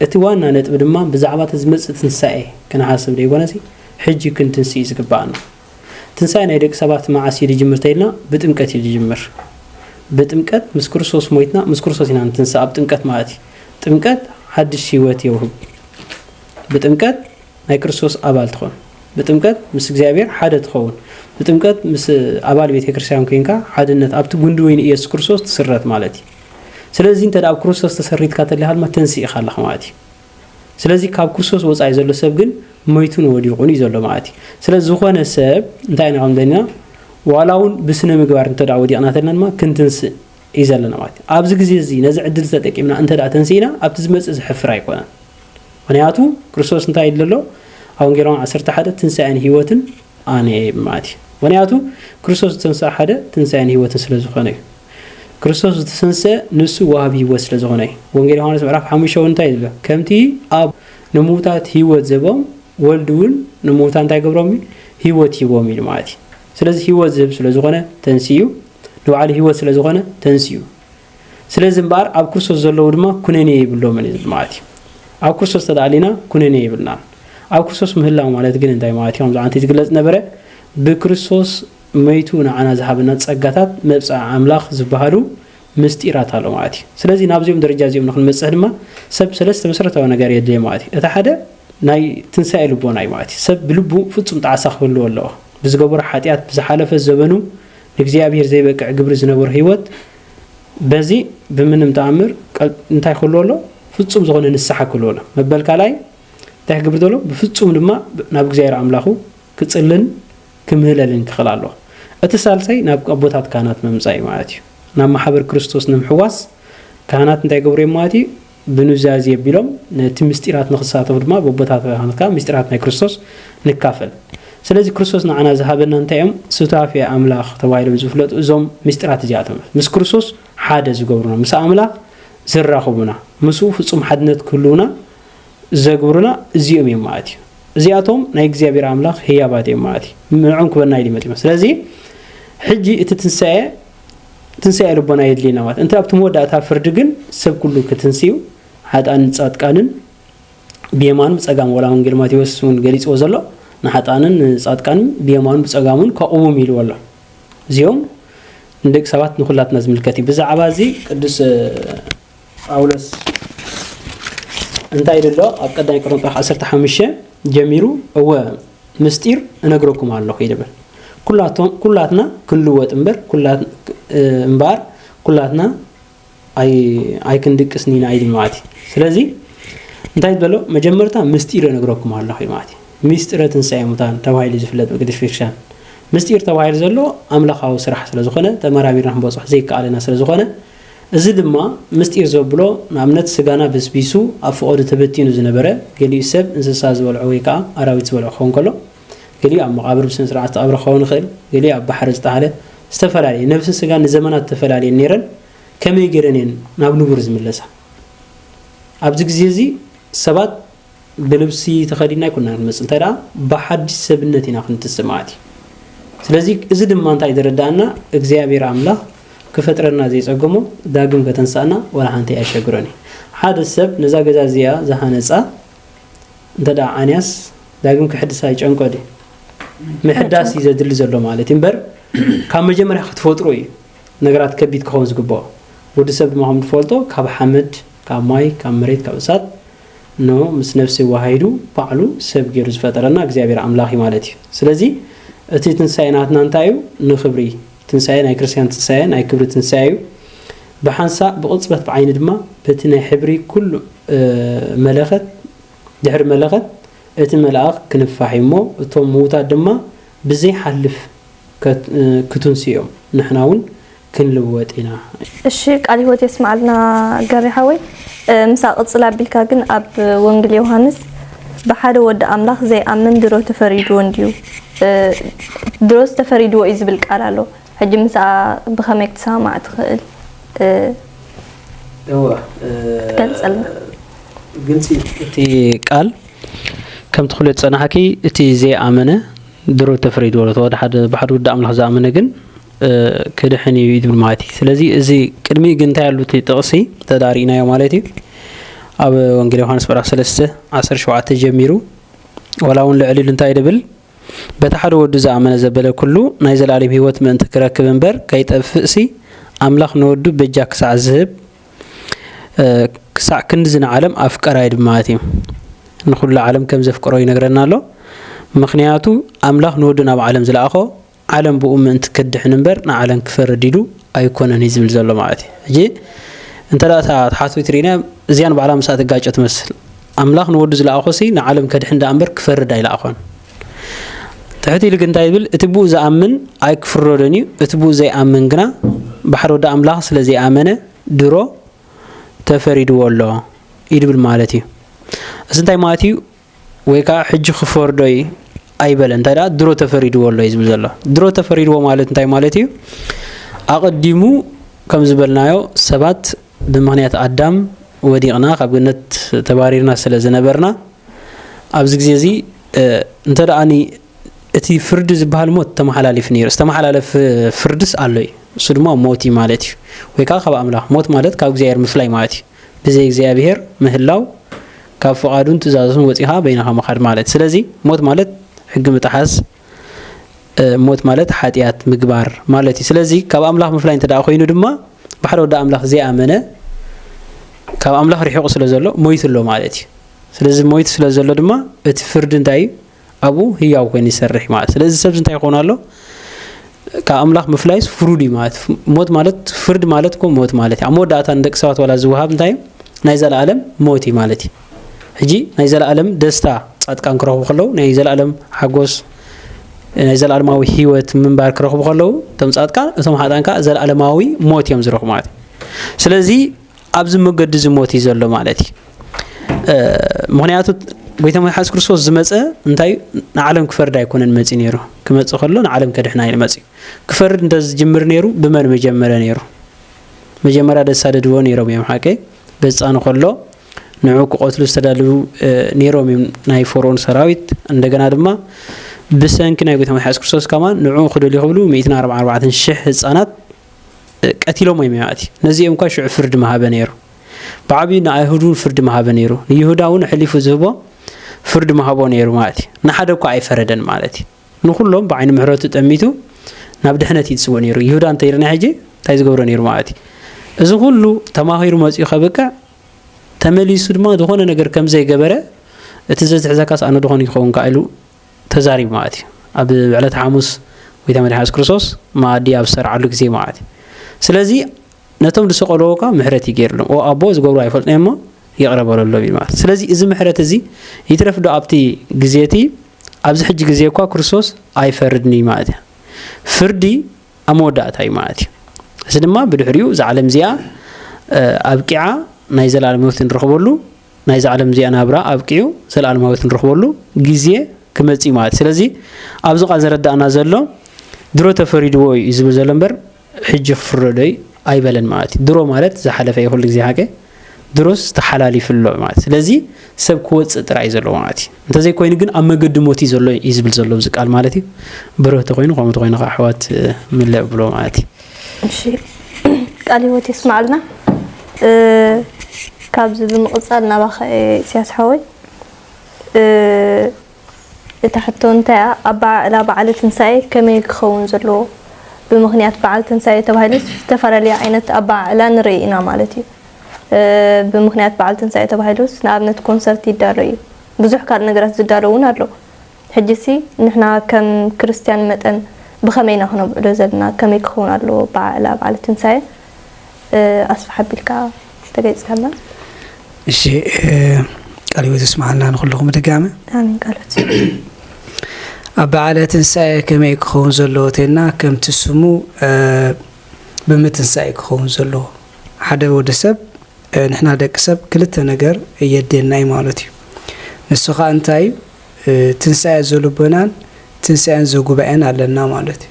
እቲ ዋና ነጥቢ ድማ ብዛዕባ እቲ ዝመጽእ ትንሳኤ ክንሓስብ ዘይኮነሲ ሕጂ ክንትንስኢ ዝግባኣና ትንሳኤ ናይ ደቂ ሰባት መዓስ እዩ ዝጅምር ተይልና ብጥምቀት እዩ ዝጅምር ብጥምቀት ምስ ክርስቶስ ሞይትና ምስ ክርስቶስ ኢና ንትንሳ ኣብ ጥምቀት ማለት እዩ ጥምቀት ሓድሽ ህይወት የውህብ ብጥምቀት ናይ ክርስቶስ ኣባል ትኾን ብጥምቀት ምስ እግዚኣብሔር ሓደ ትኸውን ብጥምቀት ምስ ኣባል ቤተ ክርስቲያን ኮይንካ ሓድነት ኣብቲ ጉንዲ ወይኒ ኢየሱስ ክርስቶስ ትስረት ማለት እዩ ስለዚህ እንተ ኣብ ክርስቶስ ተሰሪትካ ተለካ ድማ ተንስኢካ ኣለካ ማለት እዩ ስለዚ ካብ ክርስቶስ ወፃኢ ዘሎ ሰብ ግን መይቱን ወዲቑን እዩ ዘሎ ማለት እዩ ስለ ዝኾነ ሰብ እንታይ ኢና ከም ዘለና ዋላ እውን ብስነ ምግባር እንተ ወዲቕና ተለና ድማ ክንትንስእ እዩ ዘለና ማለት እዩ ኣብዚ ግዜ እዚ ነዚ ዕድል ተጠቂምና እንተ ተንስኢና ኣብቲ ዝመፅእ ዝሕፍር ኣይኮነን ምክንያቱ ክርስቶስ እንታይ ይብል ኣሎ ኣብ ወንጌል ዮሃን ዓሰርተ ሓደ ትንሳኤን ህይወትን ኣነ እየ ማለት እዩ ምክንያቱ ክርስቶስ ዝተንስኣ ሓደ ትንሳኤን ህይወትን ስለ ዝኾነ እዩ ክርስቶስ ዝተሰንሰ ንሱ ዋሃቢ ህይወት ስለ ዝኾነ እዩ ወንጌል ዮሃንስ ምዕራፍ ሓሙሽተ እውን እንታይ ዝብሎ ከምቲ ኣብ ንምውታት ህይወት ዘቦም ወልድ እውን ንምውታ እንታይ ገብሮም እዩ ህይወት ሂቦም ኢሉ ማለት እዩ ስለዚ ህይወት ዝህብ ስለ ዝኾነ ተንስኡ ንባዕሉ ህይወት ስለ ዝኾነ ተንስኡ ስለዚ እምበኣር ኣብ ክርስቶስ ዘለዉ ድማ ኩነኔ የብሎምን እዩ ዝብል ማለት እዩ ኣብ ክርስቶስ ተዳኣሊና ኩነኔ የብልናን ኣብ ክርስቶስ ምህላው ማለት ግን እንታይ ማለት እዩ ከምዚ ዓንቲ ዝግለጽ ነበረ ብክርስቶስ መይቱ ንዓና ዝሃበና ጸጋታት መብጽዓ ኣምላኽ ዝበሃሉ ምስጢራት ኣሎ ማለት እዩ ስለዚ ናብዚኦም ደረጃ እዚኦም ንክንበፅሕ ድማ ሰብ ሰለስተ መሰረታዊ ነገር የድልየ ማለት እዩ እቲ ሓደ ናይ ትንሳኤ ልቦና እዩ ማለት እዩ ሰብ ብልቡ ፍፁም ጣዕሳ ክህልዎ ኣለዎ ብዝገበሮ ሓጢኣት ብዝሓለፈ ዘበኑ ንእግዚኣብሄር ዘይበቅዕ ግብሪ ዝነበሮ ህይወት በዚ ብምንም ተኣምር እንታይ ክህልዎ ኣሎ ፍጹም ዝኾነ ንስሓ ክህልዎ ኣሎ መበል ካልኣይ እንታይ ክገብር ዘሎ ብፍጹም ድማ ናብ እግዚኣብሄር ኣምላኹ ክጽልን ክምህለልን ክኽእል ኣሎ እቲ ሳልሳይ ናብ ኣቦታት ካህናት ምምጻእ እዩ ማለት እዩ ናብ ማሕበር ክርስቶስ ንምሕዋስ ካህናት እንታይ ገብሩ እዮም ማለት እዩ ብኑዛዜ ኣቢሎም ነቲ ምስጢራት ንኽሳተፉ ድማ በቦታትና ኻንካ ምስጢራት ናይ ክርስቶስ ንካፈል። ስለዚ ክርስቶስ ንዓና ዝሃበና እንታይ እዮም? ሱታፌ ኣምላኽ ተባሂሎም ዝፍለጡ እዞም ምስጢራት እዚኣቶም እዮም። ምስ ክርስቶስ ሓደ ዝገብሩና፣ ምስ ኣምላኽ ዘራኽቡና፣ ምስኡ ፍጹም ሓድነት ክህልውና ዘግብሩና እዚኦም እዮም ማለት እዩ። እዚኣቶም ናይ እግዚኣብሔር ኣምላኽ ህያባት እዮም ማለት እዩ። ንዕኦም ክበና ኢሉ መጺኦም። ስለዚ ሕጂ እቲ ትንሣኤ ትንሳኤ ልቦና የድልየና ማለት እንተ ኣብቲ መወዳእታ ፍርዲ ግን ሰብ ኩሉ ክትንስዩ ሓጣንን ጻድቃንን ብየማኑ ብጸጋም ወላ ወንጌል ማቴዎስ እውን ገሊጽዎ ዘሎ ንሓጣንን ንጻድቃንን ብየማኑ ብጸጋሙን ከቕውም ኢልዎ ኣሎ እዚኦም ንደቂ ሰባት ንኩላትና ዝምልከት እዩ ብዛዕባ እዚ ቅዱስ ጳውሎስ እንታይ ኢሉ ኣሎ? ኣብ ቀዳማይ ቆሮንጦስ ምዕራፍ ዓሰርተ ሓሙሽተ ጀሚሩ እወ ምስጢር እነግረኩም ኣለኹ ይብል። ኩላቶም ኩላትና ክንልወጥ እምበር ኩላት እምበኣር ኩላትና ኣይክንድቅስን ኢና ኢሉ ማለት እዩ። ስለዚ እንታይ ዝበሎ መጀመርታ ምስጢር እነግረኩም ኣለኹ ማለት እዩ። ምስጢረ ትንሳኤ ሙታን ተባሂሉ ዝፍለጥ ብቅድስት ቤተክርስትያን ምስጢር ተባሂሉ ዘሎ ኣምላኻዊ ስራሕ ስለዝኾነ ተመራሚርና ክንበፅሖ ዘይከኣለና ስለዝኾነ እዚ ድማ ምስጢር ዘብሎ ንኣብነት ስጋና በስቢሱ ኣብ ፈቐዶ ተበቲኑ ዝነበረ ገሊኡ ሰብ እንስሳ ዝበልዖ ወይ ከኣ ኣራዊት ዝበልዖ ክኸውን ከሎ ገሊኡ ኣብ መቓብር ብስነስርዓት ዝተቐብረ ክኸውን ይኽእል ገሊኡ ኣብ ባሕሪ ዝተጣለ ዝተፈላለየ ነብስን ስጋን ንዘመናት ተፈላልየን ነይረን ከመይ ገይረን እየን ናብ ንቡር ዝምለሳ ኣብዚ ግዜ እዚ ሰባት ብልብሲ ተኸዲና ኣይኮንና ክንመጽእ እንተ ብሓድሽ ሰብነት ኢና ክንትስእ ማለት እዩ ስለዚ እዚ ድማ እንታይ ዘረዳእና እግዚኣብሔር ኣምላኽ ክፈጥረና ዘይጸገሞ ዳግም ከተንሳእና ወላ ሓንቲ ኣየሸግሮን እዩ ሓደ ሰብ ነዛ ገዛ እዚኣ ዝሃነጻ እንተ ዓንያስ ዳግም ክሕድሳ ይጨንቆ ድዩ ምሕዳስ እዩ ዘድሊ ዘሎ ማለት እዩ እምበር ካብ መጀመርያ ክትፈጥሩ እዩ ነገራት ከቢድ ክኸውን ዝግብኦ ወዲ ሰብ ድማ ከም ትፈልጦ ካብ ሓመድ ካብ ማይ ካብ መሬት ካብ እሳት ን ምስ ነፍሲ ዋሃሂዱ ባዕሉ ሰብ ጌሩ ዝፈጠረና እግዚኣብሔር ኣምላኽ እዩ ማለት እዩ ስለዚ እቲ ትንሳኤ ናትና እንታይ እዩ ንክብሪ ትንሳኤ ናይ ክርስትያን ትንሳኤ ናይ ክብሪ ትንሳኤ እዩ ብሓንሳእ ብቕጽበት ብዓይኒ ድማ በቲ ናይ ሕብሪ ኩሉ መለኸት ድሕሪ መለኸት እቲ መልኣኽ ክንፋሕ እዩ እሞ እቶም ምዉታት ድማ ብዘይሓልፍ ክቱንስኡ እዮም ንሕና እውን ክንልወጥ ኢና። እሺ ቃል ህይወት የስመዓልና ገሬ ሓወይ ምስኣ ቅጽል ኣቢልካ ግን ኣብ ወንግል ዮውሃንስ ብሓደ ወዲ ኣምላኽ ዘይኣምን ድሮ ተፈሪድዎ እንድዩ ድሮስ ተፈሪድዎ እዩ ዝብል ቃል ኣሎ ሕጂ ምስኣ ብኸመይ ክትሰማማዕ ትኽእል እወ ትገልጸልና ግልጺ እቲ ቃል ከም ትኽሉ ዝጸናሕኪ እቲ ዘይኣመነ ድሮ ተፈሪድዎ ተወደ ሓደ ብሓደ ወዲ ኣምላኽ ዝኣመነ ግን ክድሕን እዩ ይብል ማለት እዩ ስለዚ እዚ ቅድሚ ግን እንታይ ኣሉ እቲ ጥቕሲ ተዳሪእናዮ ማለት እዩ ኣብ ወንጌል ዮሃንስ ምዕራፍ 3 17 ጀሚሩ ዋላ እውን ልዕሊ ኢሉ እንታይ ድብል በቲ ሓደ ወዱ ዝኣመነ ዘበለ ኩሉ ናይ ዘለኣለም ህይወት ምእንቲ ክረክብ እምበር ከይጠፍእሲ ኣምላኽ ንወዱ በጃ ክሳዕ ዝህብ ክሳዕ ክንዲ ዝንዓለም ኣፍቀራ እዩ ድማ ማለት እዩ ንኩሉ ዓለም ከም ዘፍቅሮ ይነግረና ኣሎ ምክንያቱ ኣምላኽ ንወዱ ናብ ዓለም ዝለኣኾ ዓለም ብኡ ምእንቲ ክድሕን እምበር ንዓለም ክፈርድ ኢሉ ኣይኮነን እዩ ዝብል ዘሎ ማለት እዩ። ሕጂ እንተ እታ ተሓትዊት ርኢና እዚኣ ንባዕላ ምስኣ ትጋጮ ትመስል። ኣምላኽ ንወዱ ዝለኣኾሲ ንዓለም ከድሕን ደኣ እምበር ክፈርድ ኣይለኣኾን። ትሕት ኢሉ ግን እንታይ ይብል? እቲ ብኡ ዝኣምን ኣይክፍረዶን እዩ፣ እቲ ብኡ ዘይኣምን ግና ብሓደ ወዲ ኣምላኽ ስለ ዘይኣመነ ድሮ ተፈሪድዎ ኣሎ ይብል ማለት እዩ። እዚ እንታይ ማለት እዩ? ወይ ከኣ ሕጂ ክፈርዶ እዪ ኣይበለ እንታይ ደኣ ድሮ ተፈሪድዎ ኣሎ እዩ ዝብል ዘሎ ድሮ ተፈሪድዎ ማለት እንታይ ማለት እዩ ኣቐዲሙ ከም ዝበልናዮ ሰባት ብምክንያት ኣዳም ወዲቕና ካብ ገነት ተባሪርና ስለ ዝነበርና ኣብዚ ግዜ እዚ እንተ ደኣኒ እቲ ፍርዲ ዝበሃል ሞት ተመሓላሊፍ ነይሩ ዝተመሓላለፍ ፍርድስ ኣሎ እዩ እሱ ድማ ሞት እዩ ማለት እዩ ወይ ከዓ ካብ ኣምላኽ ሞት ማለት ካብ እግዚኣብሔር ምፍላይ ማለት እዩ ብዘይ እግዚኣብሄር ምህላው ካብ ፍቓዱን ትእዛዙን ወጺኻ በይንኻ ምኻድ ማለት ስለዚ ሞት ማለት ሕጊ ምጥሓስ ሞት ማለት ሓጢኣት ምግባር ማለት እዩ ስለዚ ካብ ኣምላኽ ምፍላይ እንተ ደኣ ኮይኑ ድማ ብሓደ ወዲ ኣምላኽ ዘይኣመነ ካብ ኣምላኽ ርሒቑ ስለ ዘሎ ሞይቱ ኣሎ ማለት እዩ ስለዚ ሞይቱ ስለ ዘሎ ድማ እቲ ፍርዲ እንታይ እዩ ኣብኡ ህያው ኮይኑ ይሰርሕ ማለት ስለዚ ሰብ እንታይ ይኾን ኣሎ ካብ ኣምላኽ ምፍላይስ ፍሩድ እዩ ማለት ሞት ማለት ፍርድ ማለት እኮ ሞት ማለት እዩ ኣብ መወዳእታ ንደቂ ሰባት ዋላ ዝወሃብ እንታይ እዩ ናይ ዘለኣለም ሞት እዩ ማለት እዩ ሕጂ ናይ ዘለኣለም ደስታ ጻድቃን ክረኽቡ ከለዉ ናይ ዘለኣለም ሓጎስ ናይ ዘለኣለማዊ ህይወት ምንባር ክረኽቡ ከለዉ እቶም ጻድቃን እቶም ሓጣን ከዓ ዘለኣለማዊ ሞት እዮም ዝረኽቡ ማለት እዩ ስለዚ ኣብዚ መገዲ እዚ ሞት እዩ ዘሎ ማለት እዩ ምክንያቱ ጎይታ መድሓስ ክርስቶስ ዝመፀ እንታይ ንዓለም ክፈርድ ኣይኮነን መፂ ነይሩ ክመፅ ከሎ ንዓለም ከድሕና እዩ መፅዩ ክፈርድ እንተ ዝጅምር ነይሩ ብመን መጀመረ ነይሩ መጀመርያ ደሳደድዎ ነይሮም እዮም ሓቂ በፃኑ ከሎ ንዑ ክቐትሉ ዝተዳልዉ ነይሮም እዮም ናይ ፈርኦን ሰራዊት እንደገና ድማ ብሰንኪ ናይ ጎይታ መድሓስ ክርስቶስ ከማን ንዑ ክደልዩ ክብሉ 144 ሽሕ ህፃናት ቀቲሎሞ እዮም ያእቲ ነዚኦም እኳ ሽዑ ፍርዲ ምሃበ ነይሩ ብዓብዩ ንኣይሁድ እውን ፍርዲ ምሃበ ነይሩ ንይሁዳ እውን ሕሊፉ ዝህቦ ፍርዲ ምሃቦ ነይሩ ማለት እዩ ንሓደ እኳ ኣይፈረደን ማለት እዩ ንኩሎም ብዓይኒ ምሕረቱ ጠሚቱ ናብ ድሕነት እዩ ዝፅውእ ነይሩ ይሁዳ እንተይርና ሕጂ እንታይ ዝገብሮ ነይሩ ማለት እዩ እዚ ኩሉ ተማሂሩ መፅኡ ከብቅዕ ተመሊሱ ድማ ዝኾነ ነገር ከም ዘይገበረ እቲ ዘዝሕዘካስ ኣነ ዝኾነ ይኸውን ከ ኢሉ ተዛሪቡ ማለት እዩ ኣብ ዕለት ሓሙስ ጎይታ መድሓን የሱስ ክርስቶስ መኣዲ ኣብ ዝሰርዓሉ ግዜ ማለት እዩ ስለዚ ነቶም ዝሰቐልዎ እኳ ምሕረት እዩ ገይርሎም ኦ ኣቦ ዝገብሩ ኣይፈልጡ እሞ ይቕረ በለሎም እዩ ማለት ስለዚ እዚ ምሕረት እዚ ይትረፍ ዶ ኣብቲ ግዜ እቲ ኣብዚ ሕጂ ግዜ እኳ ክርስቶስ ኣይፈርድን እዩ ማለት እዩ ፍርዲ ኣብ መወዳእታ እዩ ማለት እዩ እዚ ድማ ብድሕሪኡ እዛ ዓለም እዚኣ ኣብቂዓ ናይ ዘላለም ህይወት ንረኽበሉ ናይዛ ዓለም እዚኣ ናብራ ኣብቂዑ ዘለኣለማዊት ንረኽበሉ ግዜ ክመጽእ እዩ ማለት እዩ ስለዚ ኣብዚ ቃል ዘረዳእና ዘሎ ድሮ ተፈሪድዎ እዩ ዝብል ዘሎ እምበር ሕጂ ክፍረዶ እዩ ኣይበለን ማለት እዩ ድሮ ማለት ዝሓለፈ እዩ ኩሉ ግዜ ሓቀ ድሮስ ተሓላሊፉ ኣሎ ማለት ስለዚ ሰብ ክወፅእ ጥራይ ዘለዎ ማለት እዩ እንተዘይኮይኑ ግን ኣብ መገዲ ሞት እዩ ዘሎ እዩ ዝብል ዘሎ እዚ ቃል ማለት እዩ ብርህ ተኮይኑ ከምኡ ተኮይኑ ከዓ ኣሕዋት ምለ ብሎ ማለት እዩ እሺ ቃል ህይወት የስማዓልና ካብዚ ብምቕፃል ናባኸ ኢሳያስ ሓወይ እታ ሕቶ እንታይ እያ ኣበዓዕላ በዓለ ትንሳኤ ከመይ ክኸውን ዘለዎ ብምክንያት በዓል ትንሳኤ ተባሂሉ ዝተፈላለዩ ዓይነት ኣበዓዕላ ንርኢ ኢና ማለት እዩ ብምኽንያት በዓል ትንሳኤ ተባሂሉስ ንኣብነት ኮንሰርት ይዳሎ እዩ፣ ብዙሕ ካልእ ነገራት ዝዳሎ እውን ኣሎ። ሕጂሲ ንሕና ከም ክርስትያን መጠን ብኸመይ ኢና ክነብዕሎ ዘለና፣ ከመይ ክኸውን ኣለዎ ኣበዓዕላ በዓለ ትንሳኤ ኣስፍሕ ኣቢልካ እንተገሊጽካልና? እሺ ቃል ህይወት የስምዓልና ንኹልኹም ብድጋሚ። ኣሜን ቃል ህይወት ኣብ በዓለ ትንሳኤ ከመይ ክኸውን ዘለዎ ተይልና ከምቲ ስሙ ብምትንሳኤ ክኸውን ዘለዎ ሓደ ወዲ ሰብ ንሕና ደቂ ሰብ ክልተ ነገር የድልየና እዩ ማለት እዩ። ንሱ ኸኣ እንታይ እዩ? ትንሳኤ ዘልቦናን ትንሳኤን ዘጉባኤን ኣለና ማለት እዩ።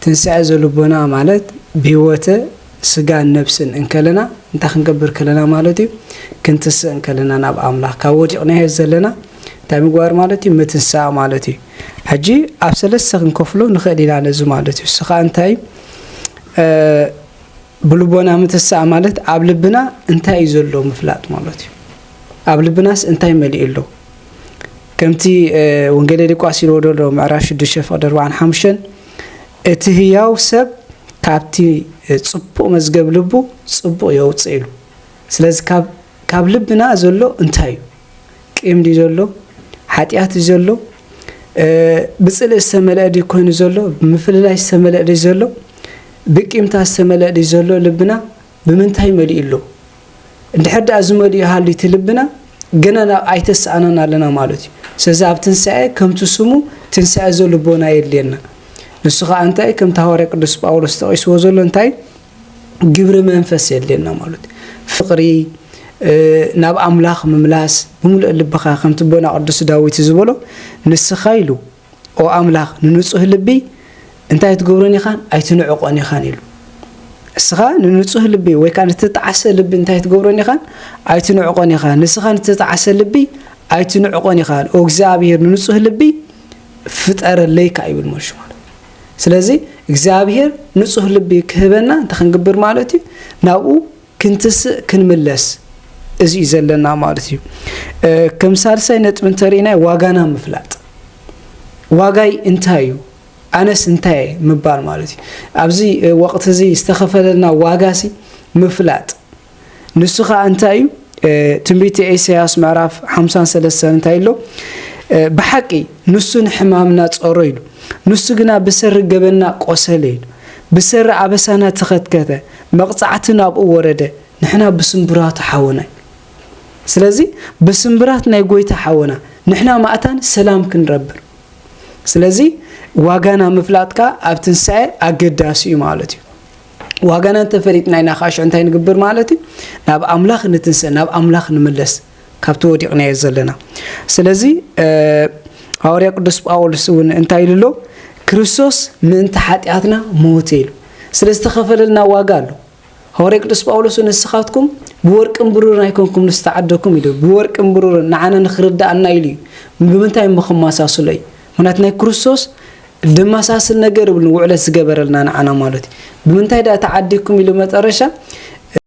ትንሳኤ ዘልቦና ማለት ብህይወተ ስጋን ነብስን እንከለና እንታይ ክንገብር ከለና ማለት እዩ? ክንትስእ እንከለና ናብ ኣምላኽ ካብ ወዲቕናዮ ዘለና እንታይ ምግባር ማለት እዩ? ምትንሳእ ማለት እዩ። ሕጂ ኣብ ሰለስተ ክንከፍሎ ንኽእል ኢና ነዚ ማለት እዩ። ንሱ ኸኣ እንታይ እዩ? ብልቦና ምትሳእ ማለት ኣብ ልብና እንታይ እዩ ዘሎ ምፍላጥ ማለት እዩ። ኣብ ልብናስ እንታይ መሊኡ ኣሎ? ከምቲ ወንጌለ ሉቃስ ኢልዎ ዘሎ ምዕራፍ 6 ፍቕዲ 45 እቲ ህያው ሰብ ካብቲ ጽቡቕ መዝገብ ልቡ ጽቡቕ የውጽእ ኢሉ። ስለዚ ካብ ልብና ዘሎ እንታይ እዩ? ቂም ድዩ ዘሎ? ሓጢኣት ድዩ ዘሎ? ብጽልእ ዝተመልአ ድዩ ኮይኑ ዘሎ? ብምፍልላይ ዝተመልአ ድዩ ዘሎ? ብቂምታ ዝተመልአ ድዩ ዘሎ? ልብና ብምንታይ መሊኡ ኣሎ? እንድሕር ደኣ ዝመልኡ ሃልዩ እቲ ልብና ገና ናብ ኣይተሰኣናን ኣለና ማለት እዩ ስለዚ ኣብ ትንሳኤ ከምቲ ስሙ ትንሳኤ ዘልቦና የድልየና ንሱ ከዓ እንታይ ከምቲ ሃዋርያ ቅዱስ ጳውሎስ ተቂስዎ ዘሎ እንታይ ግብሪ መንፈስ የድልየና ማሉት ፍቕሪ ናብ ኣምላኽ ምምላስ ብምሉእ ልብኻ ከምቲ ቦና ቅዱስ ዳዊት ዝበሎ ንስኻ ኢሉ ኦ ኣምላኽ ንንጹህ ልቢ እንታይ ኣይትገብሮን ኢኻን ኣይትንዕቆን ኢኻን ኢሉ እስኻ ንንጹህ ልቢ ወይ ከዓ ንተጣዓሰ ልቢ እንታይ ትገብሮን ኢኻን ኣይትንዕቆን ኢኻ ንስኻ ንተጣዓሰ ልቢ ኣይትንዕቆን ኢኻ ኦ እግዚኣብሔር ንንጹህ ልቢ ፍጠረለይካ ይብል መልሹ ማለት ስለዚ እግዚኣብሄር ንጹህ ልቢ ክህበና እንታይ ክንግብር ማለት እዩ ናብኡ ክንትስእ ክንምለስ እዚ እዩ ዘለና ማለት እዩ ከም ሳልሳይ ነጥቢ እንተርኢናይ ዋጋና ምፍላጥ ዋጋይ እንታይ እዩ ኣነስ እንታይ ምባል ማለት እዩ ኣብዚ ወቕቲ እዚ ዝተኸፈለልና ዋጋሲ ምፍላጥ ንሱ ኸኣ እንታይ እዩ ትንቢተ ኤሰያስ ምዕራፍ ሓምሳን ሰለስተን እንታይ ኣሎ ብሓቂ ንሱ ንሕማምና ጸሮ ኢሉ ንሱ ግና ብሰሪ ገበና ቆሰለ ኢሉ ብሰሪ ኣበሳና ተኸትከተ መቕጻዕቲ ናብኡ ወረደ ንሕና ብስምብራቱ ሓወና እዩ ስለዚ ብስምብራት ናይ ጎይታ ሓወና ንሕና ማእታን ሰላም ክንረብር ስለዚ ዋጋና ምፍላጥካ ኣብ ትንሳኤ ኣገዳሲ እዩ ማለት እዩ ዋጋና እንተ ፈሊጥና ኢና ከኣ ሽዑ እንታይ ንግብር ማለት እዩ? ናብ ኣምላኽ ንትንስእ፣ ናብ ኣምላኽ ንምለስ፣ ካብቲ ወዲቕናዮ ዘለና። ስለዚ ሃዋርያ ቅዱስ ጳውሎስ እውን እንታይ ኢሉ ኣሎ? ክርስቶስ ምእንቲ ሓጢኣትና ሞተ ኢሉ። ስለ ዝተኸፈለልና ዋጋ ኣሎ። ሃዋርያ ቅዱስ ጳውሎስ ንስኻትኩም ብወርቅን ብሩርን ኣይኮንኩም ዝተዓደኩም ኢሉ ብወርቅን ብሩርን ንዓና ንክርዳእና ኢሉ እዩ ብምንታይ እሞ ክመሳስሎ እዩ ምክንያቱ ናይ ክርስቶስ ደማሳስል ነገር የብሉን ውዕለት ዝገበረልና ንዓና ማለትዩ ብምንታይ ድኣ ተዓዲኩም ኢሉ መጠረሻ